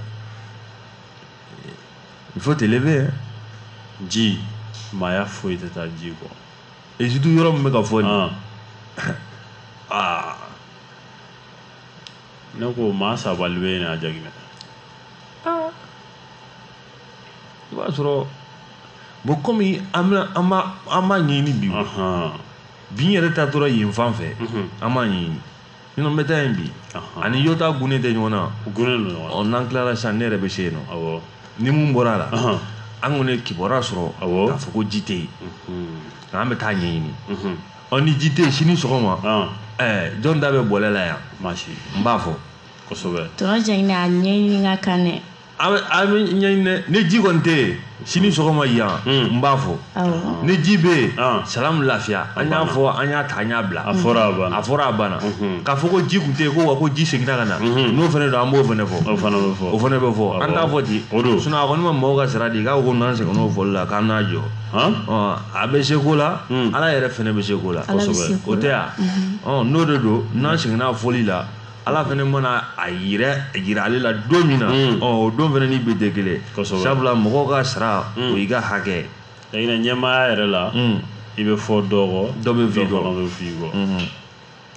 il faut t'élever ji maaya foyi tɛ taa ji kɔ et surtout yɔrɔ min bɛ ka fɔ nin aa ne ko maa sabali bɛ yen a jaginɛ i b'a sɔrɔ bon kɔmi an bɛna an b'a an b'a ɲɛɲini bi o Ahan. bi n yɛrɛ ta tora yen fan fɛ Mhm. an b'a ɲɛɲini sinon n bɛ taa yen bi Ahan. ani yɔrɔ tugunnen tɛ ɲɔgɔn na U tugunnen don ɲɔgɔn na. ɔ n'an tilara sisan ne yɛrɛ bɛ se yen nɔ Awɔ. ni mun bɔra a la Ahan. an kɔni ye kibaruya sɔrɔ Awɔ. k'a fɔ ko ji tɛ yen Mhm. nka an bɛ taa ɲɛɲini Mhm. ɔ ni ji tɛ yen sini sɔgɔma An. ɛɛ jɔn da bɛ bɔlɛ la yan Maa si. n b'a fɔ Kosɛbɛ. Tɔnɔ jɛngɛnɛ a ɲɛɲini ka kan dɛ an bɛ ɲɛɲini dɛ ni ji kɔni tɛ yen sini sɔgɔma yan hmm. n b'a fɔ ni ji bɛ yen ah. salamu lafiya an y'a fɔ an y'a ta an y'a bila a fɔra a banna a fɔra a banna mhm. k'a fɔ ko ji tun tɛ yen ko wa ko ji seginna ka na mhm. n'o fana don an b'o fana fɔ o fana bɛ fɔ o fana bɛ fɔ an t'a fɔ ten o don sinon a kɔni ma mɔgɔw ka sara di k'a ko n'an sɛgɛnna o fɔli la k'an n'a jɔ a bɛ se ko la hmm. ala yɛrɛ fana bɛ se ko la kosɛbɛ o tɛ yan mhm. n'o de don n'an sɛgɛnna fɔli la ala fana mana a yɛrɛ jira ale la don min na hmm. o don fana ni bi tɛ kelen sabula mɔgɔw ka sara hmm. o y'i ka hakɛ ye ɲinɛ ɲɛmaaya yɛrɛ la hmm. i bɛ fɔ dɔ kɔ dɔ bɛ f'i kɔ dɔ bɛ f'i kɔ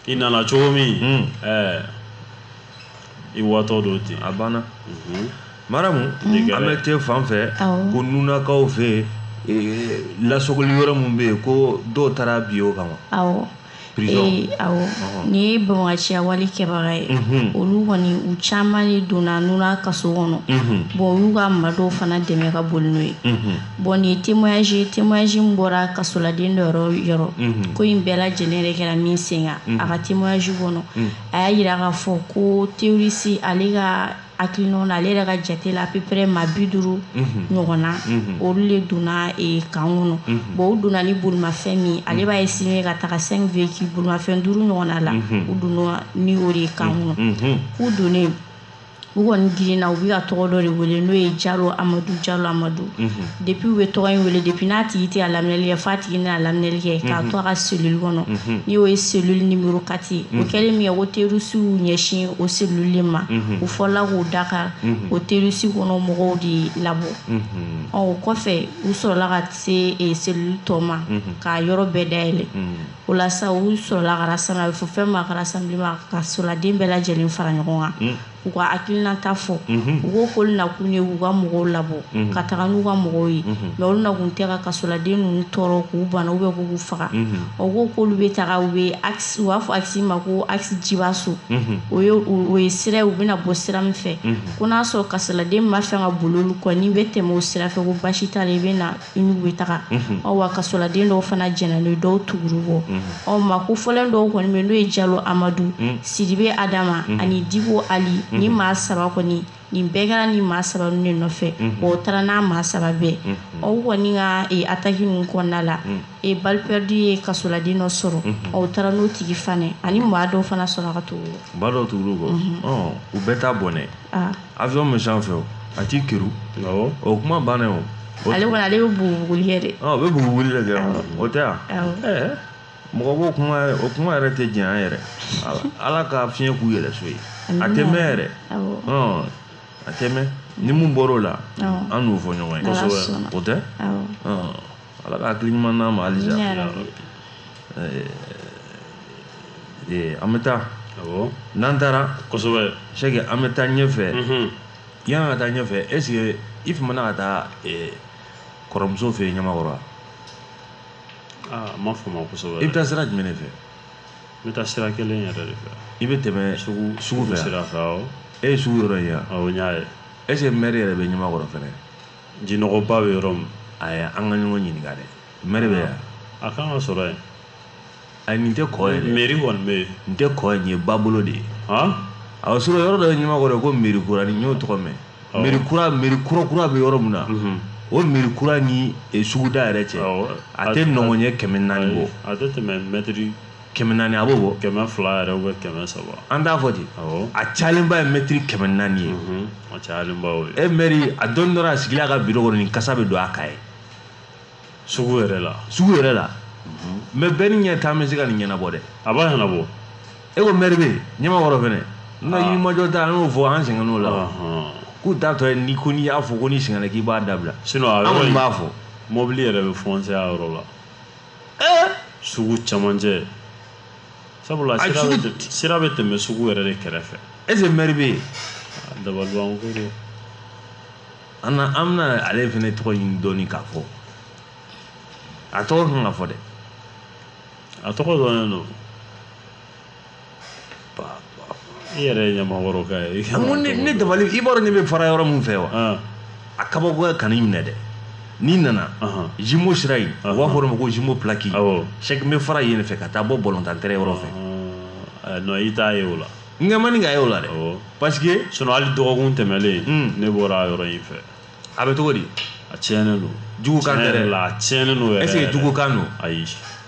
i nana cogo min ɛɛ i watɔ don ten a banna mhm. maramu an bɛ te fan fɛ ko nunakaw fɛ yen lasogoli yɔrɔ min bɛ yen ko dɔw taara bi o kama Ee nin ye banbaganciya wale kɛbaga ye olu kɔni u caman de donna Nuna kaso kɔnɔ bon olu ka maa dɔw fana dɛmɛ ka boli n'o ye bon nin témoignage témoignage bɔra kasoladen dɔ yɔrɔ yɔrɔ ko in bɛɛ lajɛlen yɛrɛ kɛra min sen a ka témoignage kɔnɔ a y'a yira k'a fɔ ko terroriste ale ka hakilinaw na ale yɛrɛ ka jate la à peu près maa bi duuru ɲɔgɔn na olu de donna eh, kan kɔnɔ bon u donna ni bolimafɛn min ale b'a estimer ka taga 5 véhicules bolimafɛn duuru ɲɔgɔnna la u donna ni o de ye kan kɔnɔ k'u donnen u kɔni girinna u bɛ ka tɔgɔ dɔ de wele n'o ye jalo amadu jalo amadu Depuis u bɛ tɔgɔ in wele depuis n'a tigi tɛ a laminɛli kɛ f'a tigi n'a laminɛli kɛ k'a to a ka cellule kɔnɔ ni o ye cellule numéro 4 o kɛlen minkɛ ko terroristew ɲɛsin o cellule ma u fɔlɔla k'o da kari o terroriste kɔnɔ mɔgɔw de labɔ ɔ o kɔfɛ u sɔrɔla ka se cellule tɔw ma k'a yɔrɔ bɛɛ dayɛlɛ o la u sɔrɔla fɛn ma kasoladen bɛɛ lajɛlen fara ɲɔgɔn kan u ka hakilinata fɔ u ko k'olu nakun ye k'u ka mɔgɔw labɔ ka taga n'u ka mɔgɔw ye mais olu nakun tɛ ka kasoladen ninnu tɔɔrɔ k'u bana ou bien ko k'u faga o ko k'olu bɛ taga u bɛ u b'a fɔ axe ma ko axe Jibaso o ye o ye sira u bɛna bɔ sira min fɛ ko n'a sɔrɔ kasoladen min b'a fɛ ka boli olu kɔni bɛ tɛmɛ o sira fɛ ko basi t'a la i bɛ na n'u bɛ taga mhm. awa kasoladen dɔw fana jɛnna n'a ye dɔw tugura u kɔ mhm. u maa kofɔlen dɔw kɔni bɛ n'o ye jalo amadu mhm. sidibe adama ani dibo ali nin maa saba kɔni nin bɛɛ kɛra nin maa saba ninnu de nɔfɛ wa o taara n'a maa saba bɛɛ u kɔni ka e, attaque ninnu kɔnɔna la e, balle perdue ye kasoladen dɔ sɔrɔ u taara n'o tigi fana ani maa dɔw fana sɔnna ka tugu u kɔ maa dɔw tugura u kɔ u bɛɛ t'a bɔnɛ ah. avion bɛ sanfɛ o a t'i keri awɔ o kuma banna o ale kɔni ale bɛ bugubuguli kɛ dɛ o bɛ bugubuguli de kɛ o tɛ yan ɛɛ mɔgɔ b'o kuma o kuma yɛrɛ tɛ jɛn an yɛrɛ ala ka fiɲɛ k'u yɛlɛnso ye a tɛ mɛn yɛrɛ a tɛ mɛn ni mun bɔra o la an n'o fɔ ɲɔgɔn ye o tɛ Ala ka hakili ɲuman d'an ma halisa. Amina yarabi. Ee an bɛ taa. Awɔ. N'an taara. Kosɛbɛ. Sɛki an bɛ taa ɲɛfɛ. Unhun. Yan ka taa ɲɛfɛ est ce que i famana ka taa ee kɔrɔmuso fɛ yen Ɲamakɔrɔ wa? Aa n ma fama kosɛbɛ dɛ. I bɛ taa sira jumɛn de fɛ? N bɛ taa sira kelen yɛrɛ de fɛ. I bɛ tɛmɛ sugu sugu fɛ wa? Sugu sira fɛ awɔ. E ye sugu yɔrɔ ye wa? Awɔ n y'a ye. Est ce que maire yɛrɛ bɛ Ɲamakɔrɔ fana? Jinɔgɔba bɛ yɔrɔ min ayi an ka ɲɔgɔn ɲininka dɛ maire bɛ yan a kan ka sɔrɔ yen a nin tɛ kɔ ye mairie kɔni bɛ yen nin tɛ kɔ ye babolo de ye a sɔrɔ yɔrɔ dɔ ye Ɲamakɔrɔ yen ko mairie kura n'i y'o tɔgɔ mɛn mairie kura kura bɛ yɔrɔ min na o mairie kura ni suguda yɛrɛ cɛ a tɛ nɔngɔnɲɛ kɛmɛ naani bɔ a tɛ tɛmɛ mɛt kɛmɛ naani a b'o bɔ kɛmɛ fila yɛrɛ ubiyɛn kɛmɛ saba an t'a fɔ ten a cayalenba ye mɛtiri kɛmɛ naani ye mhm. a cayalenba o ye e mɛri a dɔɔni dɔrɔn a sigilen a ka biro kɔnɔ nin kasa bɛ don a kan ye sugu yɛrɛ la sugu yɛrɛ la mhm. mɛ bɛɛ ni ɲɛ taa bɛ se ka nin ɲɛnabɔ dɛ a b'a ɲɛnabɔ e ko mɛri bɛ ɲamakɔrɔ fɛnɛ n ka ah. yirimajɔ ta an y'o fɔ an sɛgɛnn'o la k'u t'a tɔ ye ni ko n'i y'a fɔ ko n'i sɛgɛnna k'i b'a dabila an kɔni b'a fɔ mɔbili yɛrɛ bɛ fɔnsɛ a yɔrɔ la sugu camancɛ sabula sira bɛ tɛmɛ sugu yɛrɛ de kɛrɛfɛ est ce que mɛri bɛ yen dabaliban ko don an na an bɛna ale fɛnɛ tɔgɔ ɲini dɔɔnin k'a fɔ a tɔgɔ kan ka fɔ dɛ a tɔgɔ dɔnnen don i yɛrɛ ye ɲamakɔrɔka ye ne dabali i b'a dɔn ne bɛ fara yɔrɔ min fɛ wa ah. a kabakoya kan'i minɛ dɛ n'i nana jimo sira in u b'a fɔ o ma ko jimo pilaki sɛki n bɛ fara yen fɛ ka taa bɔ balɔntan tɛrɛn yɔrɔ fɛ ah, eh, i t'a ye o la n kɛ man di ka ye o la dɛ parce que sinon hali dɔgɔkun tɛmɛlen hmm. ne bɔra yɔrɔ in fɛ a bɛ cogo di a tiɲɛnen don jugukan tɛ dɛ a tiɲɛnen don yɛrɛ est ce que jugukan don ayi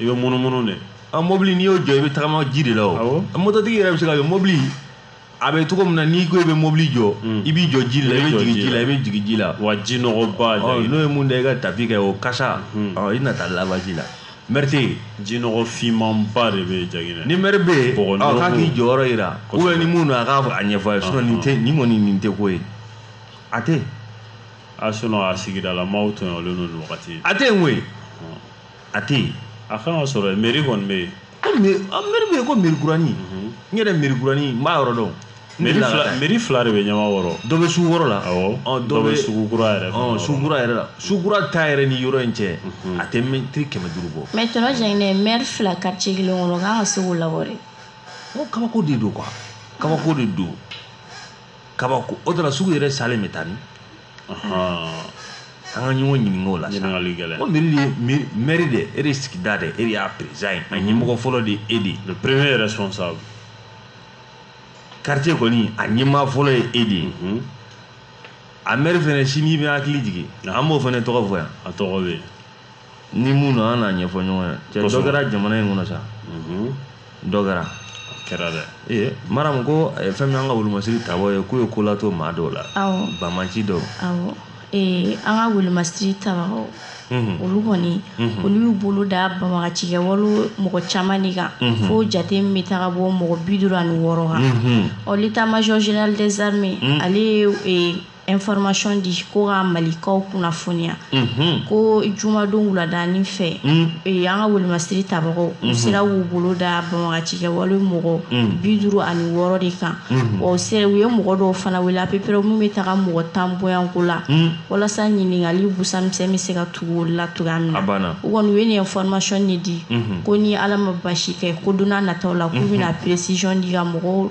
i bɛ munumunu de a mobili n'i y'o jɔ i bɛ tagama ji de la o mototigi yɛrɛ bɛ se ka kɛ mobili a bɛ cogo min na n'i ko i bɛ mobili jɔ mm. i b'i jɔ ji la i bɛ jigin ji la i bɛ jigin ji la wa ji nɔgɔba n'o ye mun da i ka tapi kɛ o kasa mm. i na taa labaji la mɛri tɛ yen ji nɔgɔ finmanba de bɛ yen jaginɛ ni mɛri bɛ yen k'a k'i jɔyɔrɔ jira ubiyɛn ni mun don a k'a a ɲɛfɔ a ye sinɔn nin tɛ nin kɔni nin tɛ ko ye a tɛ a sinɔn a sigidala maaw tɔɲɔlen don nin wagati a tɛ yen koyi a tɛ yen a kan ka sɔrɔ meri kɔni bɛ yen ko meri bɛ yen ko meri kuranin mhm. n yɛrɛ meri kuranin n b'a yɔrɔ dɔn meri fila de bɛ ɲamakɔrɔ dɔ bɛ sugu kɔrɔ la dɔ bɛ sugu kura yɛrɛ fana sugu kura yɛrɛ la sugu kura ta yɛrɛ ni yɔrɔ in cɛ mhm. a tɛ mɛtiri kɛmɛ duuru bɔ mɛ tɔntɔn jaginɛ mɛri fila quartier kelen kɔnɔ k'an ka se k'o labɔ dɛ ko kabako de don kuwa kabako de don kabako o de la sugu yɛrɛ salen bɛ taa ni an ka ɲɔgɔn ɲininka o la ɲininkali gɛlɛn ko meri de ye mɛri de e de sigida de e de y'a perezidan ye a ɲɛmɔgɔ fɔlɔ de ye e de ye le premier responsable quartier kɔni a ɲɛmaa fɔlɔ ye e de ye mhm. a mɛri fɛnɛ sini bɛ hakili jigin an b'o fɛnɛ tɔgɔ fɔ yan a tɔgɔ bɛ yen ni mun don an n'a ɲɛfɔ ɲɔgɔn ye cɛ dɔ kɛra jamana in kɔnɔ sa dɔ kɛra kɛra dɛ ee maramu ko eh, fɛn min an ka kɛlɛmasiri tabaaw ye k'u ye ko lato maa dɔw la banbaaci dɔw Eh, an ka kɛlɛmasiri tabagaw mhm. olu kɔni mhm. olu y'u bolo da banbagaci kɛwale mɔgɔ caman de kan mhm. fo jate min bɛ taga bɔ mɔgɔ bi duuru ani wɔɔrɔ kan ɔ l'état major général des armées ale ye eh, information di ko ka malikaw kunnafoniya ko jumadon wuladani fɛ an ka welimasiri tabagaw u sera k'u bolo da banbagaci kɛwale mɔgɔ bi duuru ani wɔɔrɔ de kan wa u sera u ye mɔgɔ dɔw fana wele à peu près min bɛ taga mɔgɔ tan bɔ yan ko la walasa ɲininkali busamisɛn bɛ se ka tugu olu la cogoya min na u kɔni u ye nin information de di ko ni ala ma basi kɛ ko donna nataw la k'u bɛna précision di ka mɔgɔw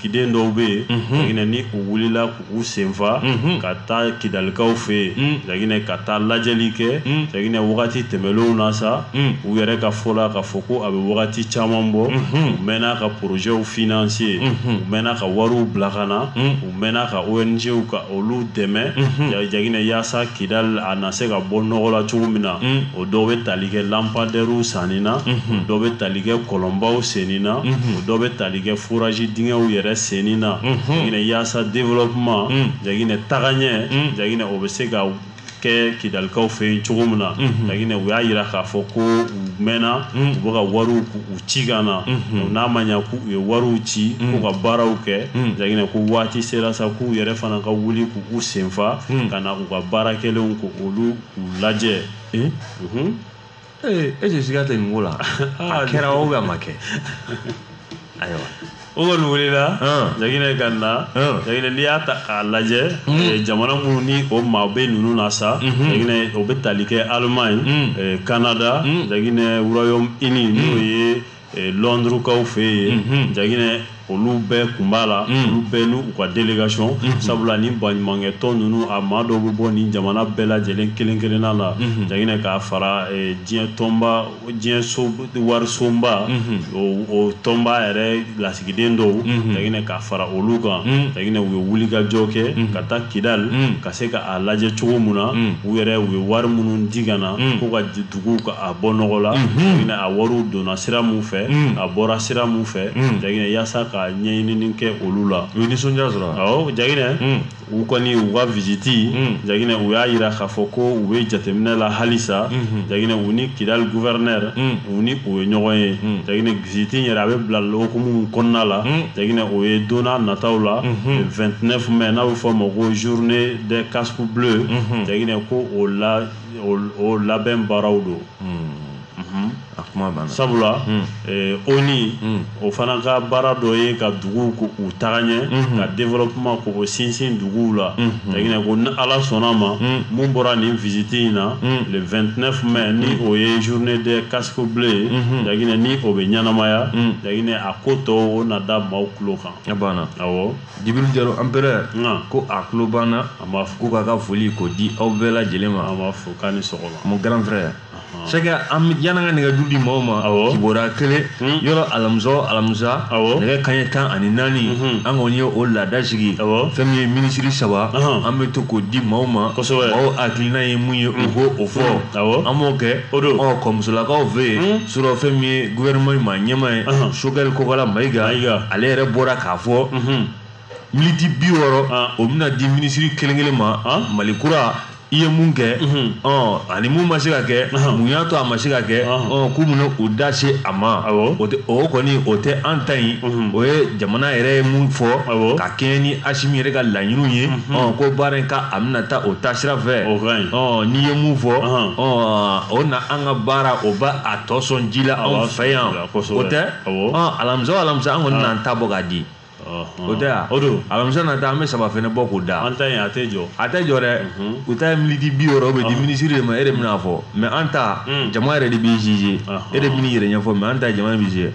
giden dɔw bɛ yen jaginɛ n' u wulila k'u senfa ka taa kidalikaw fɛ yen jaginɛ ka taa lajɛli kɛ jaginɛ wagati tɛmɛlenw na sa u yɛrɛ ka fɔ la k'a fɔ ko a bɛ wagati caman bɔ u mɛnna ka projetw financer u mɛnna ka wariw bila ka na u mɛnna ka ONGw ka olu dɛmɛ jaginɛ yaasa kidali a na se ka bɔ nɔgɔ la cogo min na o dɔw bɛ tali kɛ lampadairew sanni na o dɔw bɛ tali kɛ kɔlɔnbaw senni na o dɔw bɛ tali kɛ forage dingɛw yɛrɛ senni na jaginɛ yaasa développement jaginɛ tagaɲɛ jaginɛ o bɛ se ka kɛ kidalikaw fɛ yen cogo min na jaginɛ u y'a yira k'a fɔ ko u mɛnna u bɛ ka wariw u ci ka na n'a ma ɲɛ k'u ye wariw ci k'u ka baaraw kɛ jaginɛ ko waati sera sa k'u yɛrɛ fana ka wuli k'u senfa ka na u ka baara kɛlenw ko olu k'u lajɛ ee e tɛ siga tɛ nin ko la a kɛra o bɛ a ma kɛ ayiwa o kɔni wulila jaginɛ ka na jaginɛ n'i y'a ta k'a lajɛ eh, jamana minnu ni o maa bɛ ninnu na sa mhm. jaginɛ o bɛ tali kɛ Allemagne mhm. eh, Canada mhm. jaginɛ Royaume-Uni n'o ye lɔndurukaw fɛ yen jaginɛ olu bɛɛ kun b'a la olu bɛɛ n'u ka délégation sabula ni baɲumankɛtɔn ninnu a maa dɔw bɛ bɔ ni jamana bɛɛ lajɛlen kelen kelenna la jaginɛ k'a fara diɲɛ tɔnba diɲɛ warisonba o tɔnba yɛrɛ lasigiden dɔw jaginɛ k'a fara olu kan jaginɛ u ye wulikajɔ kɛ ka taa kidali ka se k'a lajɛ cogo min na u yɛrɛ u ye wari minnu di ka na ko ka dugu k'a bɔ nɔgɔ la a wariw donna sira min fɛ a bɔra sira min fɛ jaginɛ yaasa ka ɲɛɲinini kɛ olu la u ye nisɔndiya sɔrɔ jaginɛ u kɔni u ka visite jaginɛ u y'a yira k'a fɔ ko u bɛ jateminɛ la halisa jaginɛ u ni kidali gouverneur u ni o ye ɲɔgɔn ye jaginɛ visite yɛrɛ a bɛ bila hukumu kɔnɔna la jaginɛ o ye donna nataw la le 29 mai n'a bɛ fɔ ma ko journée des casques bleus jaginɛ ko o la o labɛn baaraw don a kuma banna sabula eh, ONU o fana ka baara dɔ ye ka duguw k'u tagaɲɛ ka développement k'o sinsin duguw la jaginɛ ko ni ala sɔnna ma mun bɔra nin visite in na le 29 mai ni o ye journée des casques bleus ye jaginɛ ni o bɛ ɲɛnamaya jaginɛ a ko tɔw o na da maaw tulo kan a banna awɔ jibiri jalo empereur ko a tulo b'an na a b'a fɔ ko k'a ka foli k'o di aw bɛɛ lajɛlen ma a b'a fɔ k'a ni sɔgɔma mon grand frère Sɛki yan'an ka nɛgɛjuru di maaw ma kibaruya kelen yɔrɔ alamisa o alamisa nɛgɛ kaɲɛ tan ani naani an kɔni ye o laada sigi fɛn min ye minisiri saba an bɛ to k'o di maaw ma maaw hakilina ye mun ye u k'o fɔ an b'o kɛ o don kɔmusolakaw fɛ yen Surɔ fɛn min ye gouvernement in ma ɲɛmaa ye Ɔnhɔn. Choguel Kokalla Mayiga Mayiga. ale yɛrɛ bɔra k'a fɔ militi bi wɔɔrɔ Ah. o bɛna di minisiri kelen kelen ma Ah. Mali kura i ye mun kɛ ɔn ani mun ma se ka kɛ Ɔnhɔn. mun y'a to a ma se ka kɛ Ɔnhɔn. ɔn k'u bɛna u da se a ma Awɔ. o tɛ- o kɔni o tɛ an ta in Mhm. o ye jamana yɛrɛ ye mun fɔ Awɔ. ka kɛɲɛ ni Asimi yɛrɛ ka laɲiniw ye ɔn ko baara in ka a bɛna taa o taasira fɛ O ka ɲi. ɔn n'i ye mun fɔ Ɔnhɔn. ɔn o na an an ka baara o bɛ a tɔ sɔn ji la anw fɛ yan o tɛ alamisa o alamisa an kɔni ah. n'an ta bɔ k'a di ah, ah. o tɛ yan o don alamisa nata an bɛ saba fɛnɛ bɔ k'o da an ta in a tɛ jɔ a tɛ jɔ dɛ mhm. u ta ye militi bi wɔɔrɔ o bɛ di minisiri de ma e de bɛn'a fɔ mais an ta hmm. jama yɛrɛ de b'i juger e de bɛn'i yɛrɛ ɲɛfɔ mais an ta jama b'i juger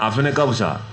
a fɛnɛ ka fisa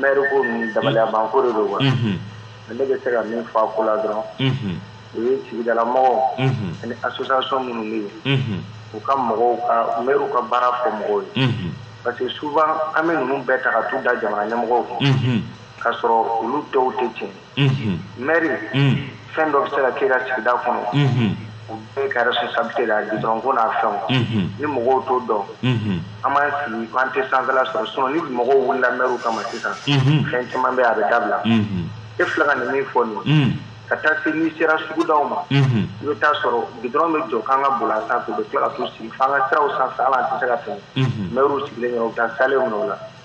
Mɛri ko ninnu dabaliyabanko de don wa ne bɛ se ka min fɔ a ko la dɔrɔn o ye sigidalamɔgɔw ani association minnu bɛ yen u ka mɔgɔw ka mɛriw ka baara fɔ mɔgɔw ye parce que souvent an bɛ ninnu bɛɛ ta ka t'u da jamana ɲɛmɔgɔw kun k'a sɔrɔ olu dɔw tɛ tiɲɛ mɛri fɛn dɔ bɛ se ka kɛ ka sigida kɔnɔ u bɛɛ ka responsabilité la goudron ko n'a fɛnw ni mɔgɔw t'o dɔn an b'an sigi an tɛ san sɔrɔ sinon ni mɔgɔw wulila mɛriw kama sisan fɛn caman bɛ a bɛ dabila e filɛ ka nin min fɔ nin ka taa se n'i sera sugudaw ma i bɛ taa sɔrɔ goudron bɛ jɔ k'an ka boli a sanfɛ u bɛ tila ka sigi fo an ka siraw sanfɛ hali an tɛ se ka tɛmɛ mɛriw sigilen taa sale o la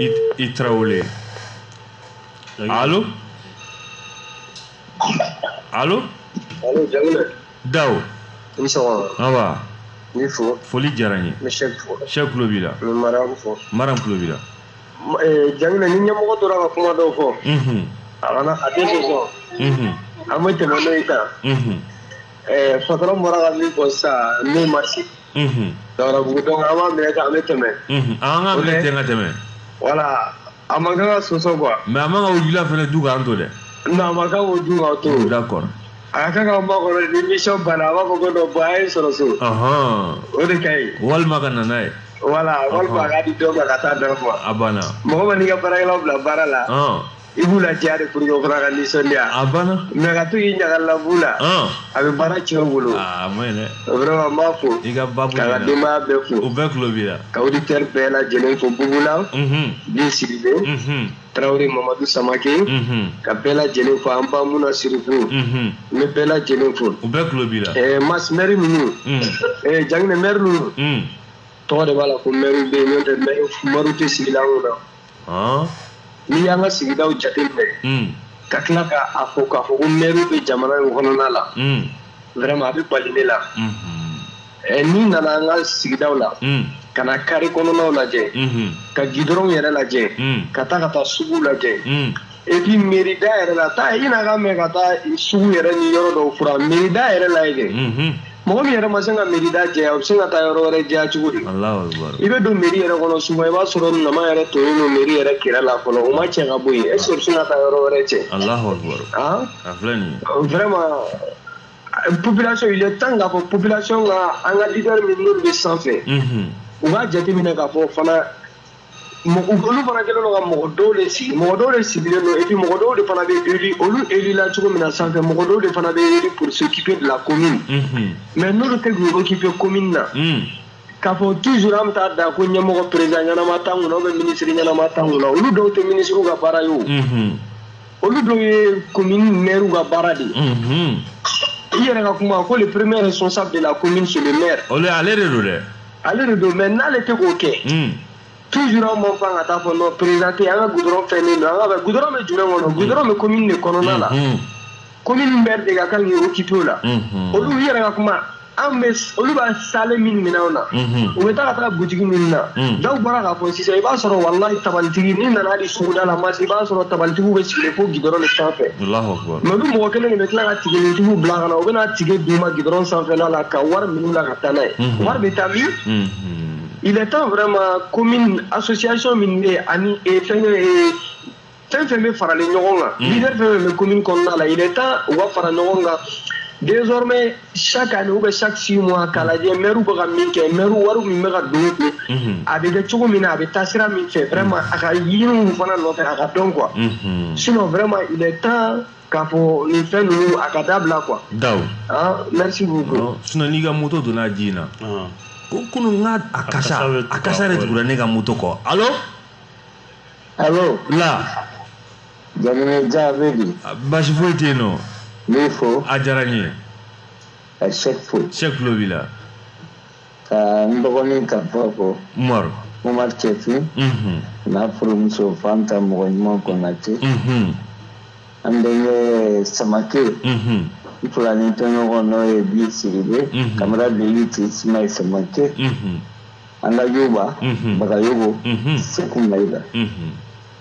I, I Traoré. Allô Allô Allô, Jamila. Dao. I ni sɔgɔma. Nba. N b'i fo. Foli diyara n ye. N bɛ Sɛki fo. Sɛki tulo b'i la. N bɛ Mariam fo. Mariam tulo b'i la. Ma- eh, Jamila, ni ɲɛmɔgɔ tora ka kuma dɔw fɔ, Unhun. a kana a tɛ sɔsɔ. Unhun. An bɛ tɛmɛ n'o ye tan. Unhun. Eh, patron bɔra ka min fɔ sisan, n'o ma se. Dawudabugu donc an b'a minɛ tan an bɛ tɛmɛ an k'a minɛ ten ka tɛmɛ voilà a man kan ka sɔsɔ quoi mais a man ka wula fana dun k'an to dɛ a man kan k'o dun k'an to d'accord a ka kan ka makɔnɔ ni émission banna a b'a fɔ ko donc bon a ye sɔrɔ so o de ka ɲi walima ka na n'a ye voilà walima k'a di dɔ ma ka taa dɔ ma a banna mɔgɔ man'i ka baarakɛlaw bila baara la i b'u la diya de pour que o fana ka nisɔndiya a banna mais ka to k'i ɲagali la b'u la a bɛ baara tiɲɛ u bolo a ma ɲi dɛ vraiment n b'a fo i ka babu ka ka denbaya bɛɛ fo u bɛɛ tulo b'i la ka auditeur bɛɛ lajɛlen fo bubula bin siribe tarawele mamadu samake ka bɛɛ lajɛlen fo an ba muna sirifu n bɛ bɛɛ lajɛlen fo u bɛɛ tulo b'i la mas mɛri ninnu jangine mɛri ninnu tɔgɔ de b'a la ko mɛriw bɛ yen n'o tɛ mɛriw tɛ sigilan kunna n'i y'an ka sigidaw jateminɛ hmm. ka tila ka a fɔ k'a fɔ ko mɛriw bɛ jamana in kɔnɔna la hmm. vraiment a bɛ bali ne la hmm. eh, n'i nana an ka sigidaw la ka na carré kɔnɔnaw lajɛ ka gidɔrɔnw yɛrɛ lajɛ ka taa ka taa suguw lajɛ et puis mairie da yɛrɛ la taa i n'a ka mɛn ka taa sugu yɛrɛ ni yɔrɔ dɔw furan mairie da yɛrɛ lajɛ kɛ mɔgɔ min yɛrɛ ma se ka mairie da jɛya o bɛ se ka taa yɔrɔ wɛrɛ jɛya cogo di i bɛ don mairie yɛrɛ kɔnɔ souvent i b'a sɔrɔ ɲaman yɛrɛ tonnen don mairie yɛrɛ kɛrɛ la fɔlɔ o ma cɛ ka bɔ yen est ce que o bɛ se ka taa yɔrɔ wɛrɛ cɛ vraiment population il est temps k'a fɔ population ka an ka leader min n'olu bɛ sanfɛ u b'a jateminɛ k'a fɔ fana olu fana kɛlen don ka mɔgɔ dɔw de sigi mɔgɔ dɔw de sigilen don et puis mɔgɔ dɔw de fana bɛ élu olu élu la cogo min na sanfɛ mɔgɔ dɔw de fana bɛ élu pour s'occuper de la commune mais n'olu tɛ k'u occuper commune na k'a fɔ toujours an bɛ taa da ko ɲɛmɔgɔ président ɲɛnama t'an kunna ou bien minisiri ɲɛnama t'an kunna olu dɔw tɛ minisiriw ka baara ye o olu dɔw ye commune maire ka baara de ye i yɛrɛ ka kuma ko le premier responsable de la commune c'est le maire olu ale de don dɛ ale de don mais n'ale tɛ k'o kɛ toujours anw man kan ka taa fɔ non président tɛ an ka goudron fɛnnen don an ka goudron bɛ jumɛn kɔnɔ goudron bɛ commune de kɔnɔna la commune maire de ka kan k'i occuper o la olu u yɛrɛ ka kuma an bɛ olu bɛ saalen min minɛ anw na u bɛ taa ka taa butigi min na dɔw bɔra k'a fɔ sisan i b'a sɔrɔ walayi tabalitigi n'i nana hali suguda la masi i b'a sɔrɔ tabalitigiw bɛ sigilen fo gidɔrɔn de sanfɛ mais olu mɔgɔ kelen de bɛ tila ka tikɛnintigiw bila ka na u bɛna tikɛ d'u ma gidɔrɔn sanfɛla la ka wari minɛ u la taa n'a ye mhm. wari bɛ taa min mhm. il est temps vraiment commune association min bɛ yen ani eh, fɛnkɛ eh, fɛn fɛn bɛ faralen ɲɔgɔn kan mhm. leader fɛn fɛn bɛ commune kɔnɔna la il est temps u ka fara ɲɔgɔn kan désormais chaque année ou bien chaque six mois k'a lajɛ mɛriw bɛ ka min kɛ mɛriw wari min bɛ ka don u kun mhm. a bɛ kɛ cogo min na a bɛ taa sira min fɛ vraiment a ka ɲini u fana nɔfɛ a ka dɔn quoi sinon vraiment il est temps k'a fɔ nin fɛn ninnu a ka dabila quoi. Daw. Ah, merci beaucoup. Ɔ sinon n'i ka moto donna ji in na. Ɔn. Ko kunun n ka a kasa a kasa de tugura ne ka moto kɔ. Allo. Allo. La. Jamana ja a bɛ di. Basi foyi tɛ yen nɔ. N b'i fo. A diyara n ye. Sɛki fo. Sɛki tulo b'i la. ka n dɔgɔnin ka fɔ ko umaru umaru cɛfin n'a furumuso fanta mɔgɔ ɲuman konate an denkɛ samake n filani tɔɲɔgɔn n'o ye bi sidibe camarade de lutte simayi samake an ka yuba bagayogo seku mayiga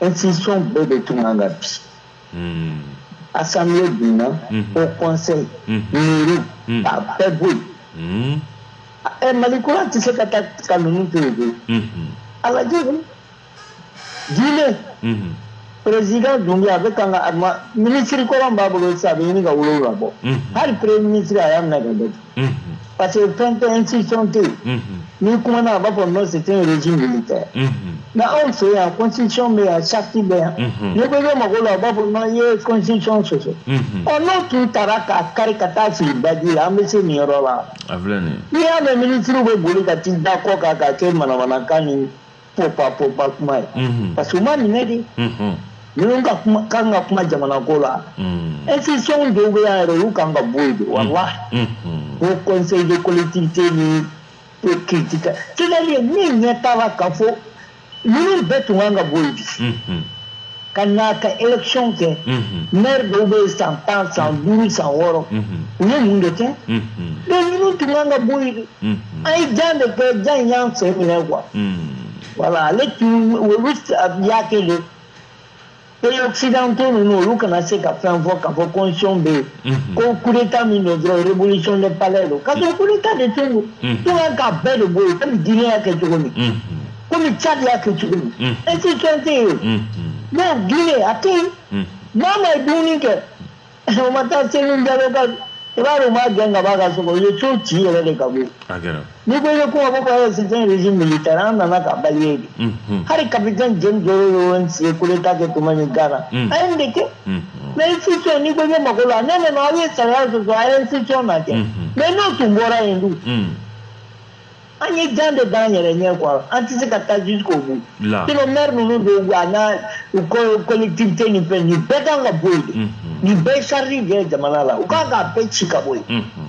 institution bɛɛ de tun kan ka bin hmm. assemblée binna hmm. au conseil hmm. mairie a bɛɛ bɔ yen ɛ mali kura tɛ se ka taa ka ninnu to yen koyi a lajɛ koyi Guinée président dunbuya a bɛ kan ka minisiri kɔrɔ min b'a bolo sisan a bɛ ɲini ka wolonwula bɔ hali premier ministre a y'a minɛ k'a datugu parce que fɛn tɛ institution tɛ yen n'i kumana a b'a fɔ non c'est un régime militaire nka anw fɛ yan constitution bɛ yan charte bɛ yan n'i ko i bɛ mag'o la a b'a fɔ non i ye constitution sɔsɔ ɔ n'o tun taara k'a kari ka t'a fili baji la an bɛ se nin yɔrɔ la n'i y'a mɛn minisiriw bɛ boli ka t'i da ko kan k'a kɛ manamanakan ni popa popa kuma ye mhm. parce que u ma minɛ dɛ mhm. minnu ka kuma kan ka kuma jamana ko la mhm. institution dɔw bɛ yan yɛrɛ olu kan ka bɔ yen de walahi ko conseil de collectivité ni ko critique c'est-à-dire min ɲɛ t'a la k'a fɔ ninnu bɛɛ tun kan ka bɔ yen bi ka na ka élection kɛ maire dɔw bɛ yen san tan san duuru san wɔɔrɔ u ye mun de kɛ donc ninnu tun kan ka bɔ yen de an ye jan de kɛ jan in y'an sen minɛ quoi voilà ale tun olu y'a kɛ de pays occidentaux ninnu olu kana se ka fɛn fɔ k'a fɔ constitution bɛ yen Mhm. ko coup d'état min don dɔrɔn révolution de palais don k'a sɔrɔ coup d'état de tun don mhm. tun kan k'a bɛɛ de bɔ yen komi Guinée y'a kɛ cogo min mhm. komi cadi y'a kɛ cogo min institution tɛ yen non Guinée a tɛ yen mamadi dunbuya kɛ o ma taa selu jalo ka i b'a dɔn u m'a gɛn ka bɔ a ka so kɔnɔ u ye so ci yɛrɛ de ka bɔ yen n'i ko i bɛ kuma fɔ ko c'est un régime militaire an nana ka balayer de hali capitaine John Jerry Rawlings ye coup d'état kɛ tuma min Ghana a ye nin de kɛ mais institution n'i ko i bɛ mag'o la non non non aw ye sariya sɔsɔ a ye institution na kɛ mais n'o tun bɔra yen dun an ye jan de d'an yɛrɛ ɲɛ quoi an tɛ se ka taa jusqu'au bout sinon maire ninnu bɛɛ a n'a u ko collectivité ni fɛn nin bɛɛ kan ka bɔ yen de nin bɛɛ charge de ye jamana la u kan k'a bɛɛ ci ka bɔ yen.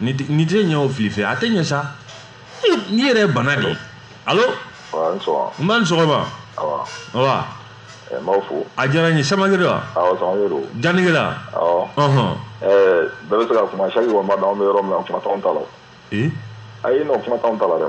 nin tɛ nin tɛ ɲɛ o fili fɛ a tɛ ɲɛ sa nin yɛrɛ ye bana de ye alo Wa, i ni sɔgɔma. nba i ni sɔgɔma Awa. awa Eh, n b'aw fo. a diyara n ye samake de wa Awa, Samake don. janegela Awɔ. ɔhɔn Eh, bɛɛ bɛ se ka kuma. Chaque fois n b'a dɔn an bɛ yɔrɔ min na, kuma t'anw ta la. ee Ayi non, kuma t'anw ta la dɛ.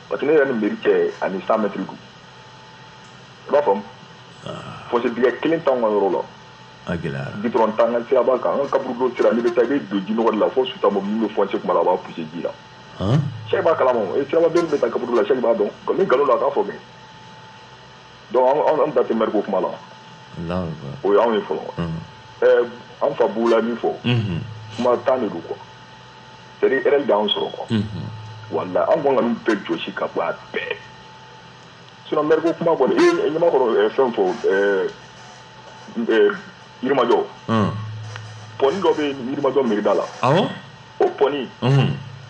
parce que ne yɛrɛ ni mairie cɛ ani cent mètres don i b'a faamu fossé dingɛ kelen t'anw ka yɔrɔ la a gɛlɛyara goudron t'an ka siraba kan an ka kaburudon sira n'i bɛ taa i bɛ don ji nɔgɔ de la fo suta mɔbili min bɛ foncé kuma la a b'a poussé ji la sɛki b'a kalama o siraba bɛɛ min bɛ taa kaburu la sɛki b'a dɔn ni nkalon don a k'a fɔ kɛ donc an da tɛ maire ko kuma la o y'anw ye fɔlɔ an fa b'u la min fɔ kuma tan de don quoi c'est à dire dan sɔrɔ quoi wala an kɔn ka ninnu bɛɛ jɔsi ka bɔ a bɛɛ sinon maire ko kuma kɔni e ɲamakɔrɔ fɛn fɔ yirimajɔ pɔni dɔ bɛ yirimajɔ mairie da la o pɔni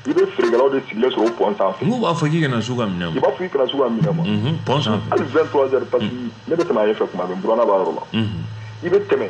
i bɛ feerekɛlaw de sigilen sɔrɔ o pɔn sanfɛ n'u b'a fɔ k'i kana s'u ka minɛn ma i b'a fɔ i kana s'u ka minɛn ma pɔn sanfɛ hali 23 heures parce que ne bɛ tɛmɛ a ɲɛfɛ kuma bɛɛ n buranna b'a yɔrɔ la i bɛ tɛmɛ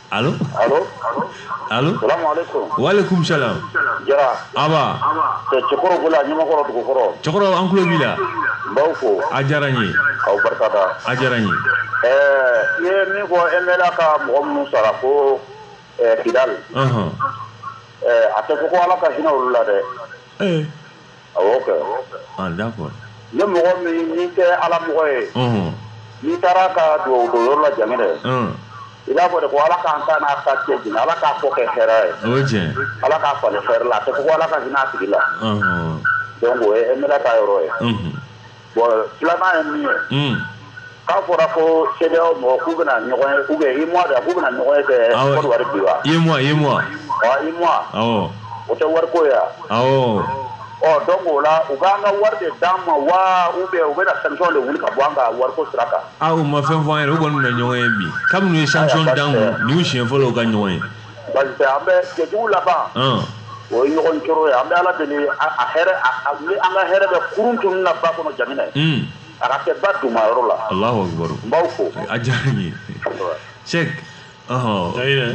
Alo? Alo? Alo? Salamu alaikum. Wa alaikum salam. Jara. Aba. Cɛ Cɛkɔrɔ Gola, Ɲamakɔrɔ Dugukɔrɔ. Cɛkɔrɔ, an tulo b'i la. N b'aw fo. A diyara n ye. K'aw barika da. A diyara n ye. Ɛɛ, i ye min fɔ MLA ka mɔgɔ minnu sara ko ɛɛ Kidali. Ɔnhɔn. Ɛɛ, a tɛ fɔ ko Ala ka hinɛ olu la dɛ. Ee! ni mɔgɔ min tɛ ala mɔgɔ ye n'i taara ka dugawu don yɔrɔ la ja dɛ i b'a fɔ de ko ala k'an ta n'a ta cɛ jigin ala k'a fɔ kɛ hɛrɛ ye ala k'a falen hɛrɛ la a tɛ fɔ ko ala ka hinɛ a tigi la donc o ye MLA ka yɔrɔ ye Bon filanan ye min ye, un, k'a fɔra ko CEDEAO mɔgɔw k'u bɛna ɲɔgɔn ye ou bien UEMOA don wa? K'u bɛna ɲɔgɔn ye kɛ Awɔ. Côte d'Ivoire bi wa? UEMOA, UEMOA, Ɔ UEMOA awɔ, o tɛ wariko ye wa? awɔ, Ɔ donc o la u b'an ka wari de d'an ma wa ou bien u bɛna sanction de wuli ka bɔ an kan wariko sira kan? a u ma fɛn fɔ an ɲɛna, u kɔni bɛna ɲɔgɔn ye bi, kabini u ye sanction d'an kun, nin y'u siɲɛ fɔlɔ ye u ka ɲɔgɔn ye. parce que an bɛ jɛjugu laban o ye ɲɔgɔn coro ye an bɛ ala deli a hɛrɛ ni an ka hɛrɛ bɛ kurun tun na ba kɔnɔ jamana ye a ka kɛ ba duman yɔrɔ la n b'aw fo a diyara n ye cɛ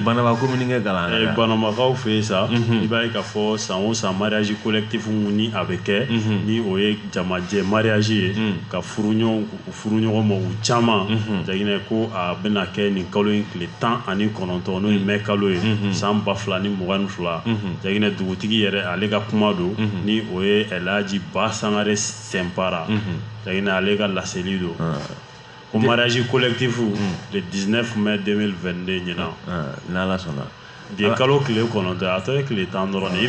banamba ko min kɛ kalan banambakaw fɛ yen sa i b'a ye k'a fɔ san o san mariage collectif ni a bɛ kɛ ni o ye jamajɛ mariage ye ka furu ɲɔgɔn furu ɲɔgɔn ma u caman jaginɛ ko a bɛna kɛ nin kalo in tile tan ani kɔnɔntɔn n'o ye mɛ kalo ye san ba fila ni mugan ni fila jaginɛ dugutigi yɛrɛ ale ka kuma don ni o ye elaji ba sangare sɛnpara jaginɛ ale ka laseli don ko mariage collectif le 19 mai 2022 ɲinan n'ala sɔnna bi ye kalo tile kɔnɔntɔn a tɔ ye tile tan dɔrɔn ye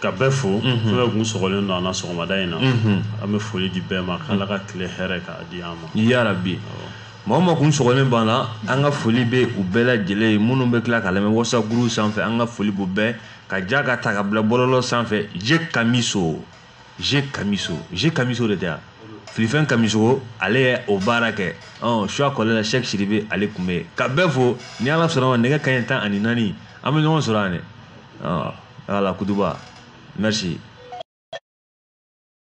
ka bɛɛ fo fɛn bɛɛ kun sɔgɔlen don an na sɔgɔmada in na an bɛ foli di bɛɛ ma k'ala ka tile hɛrɛ k'a di an ma yarabi maa o maa kun sɔgɔlen b'an na an ka foli bɛ u bɛɛ lajɛlen ye minnu bɛ tila k'a lamɛn whatsapp groupe sanfɛ an ka foli b'u bɛɛ ka ja k'a ta k'a bila bɔlɔlɔ sanfɛ je kamiso je kamiso je kamiso de tɛ yan filifɛn kamiso ale ye o baara kɛ ɔ suya kɔlɛ la sɛk sidibe ale tun bɛ yen ka bɛɛ fo ni ala sɔnna a ma nɛgɛ kanɲɛ tan ani naani an bɛ ɲɔgɔn sɔrɔ yan dɛ Ala kutuba nasi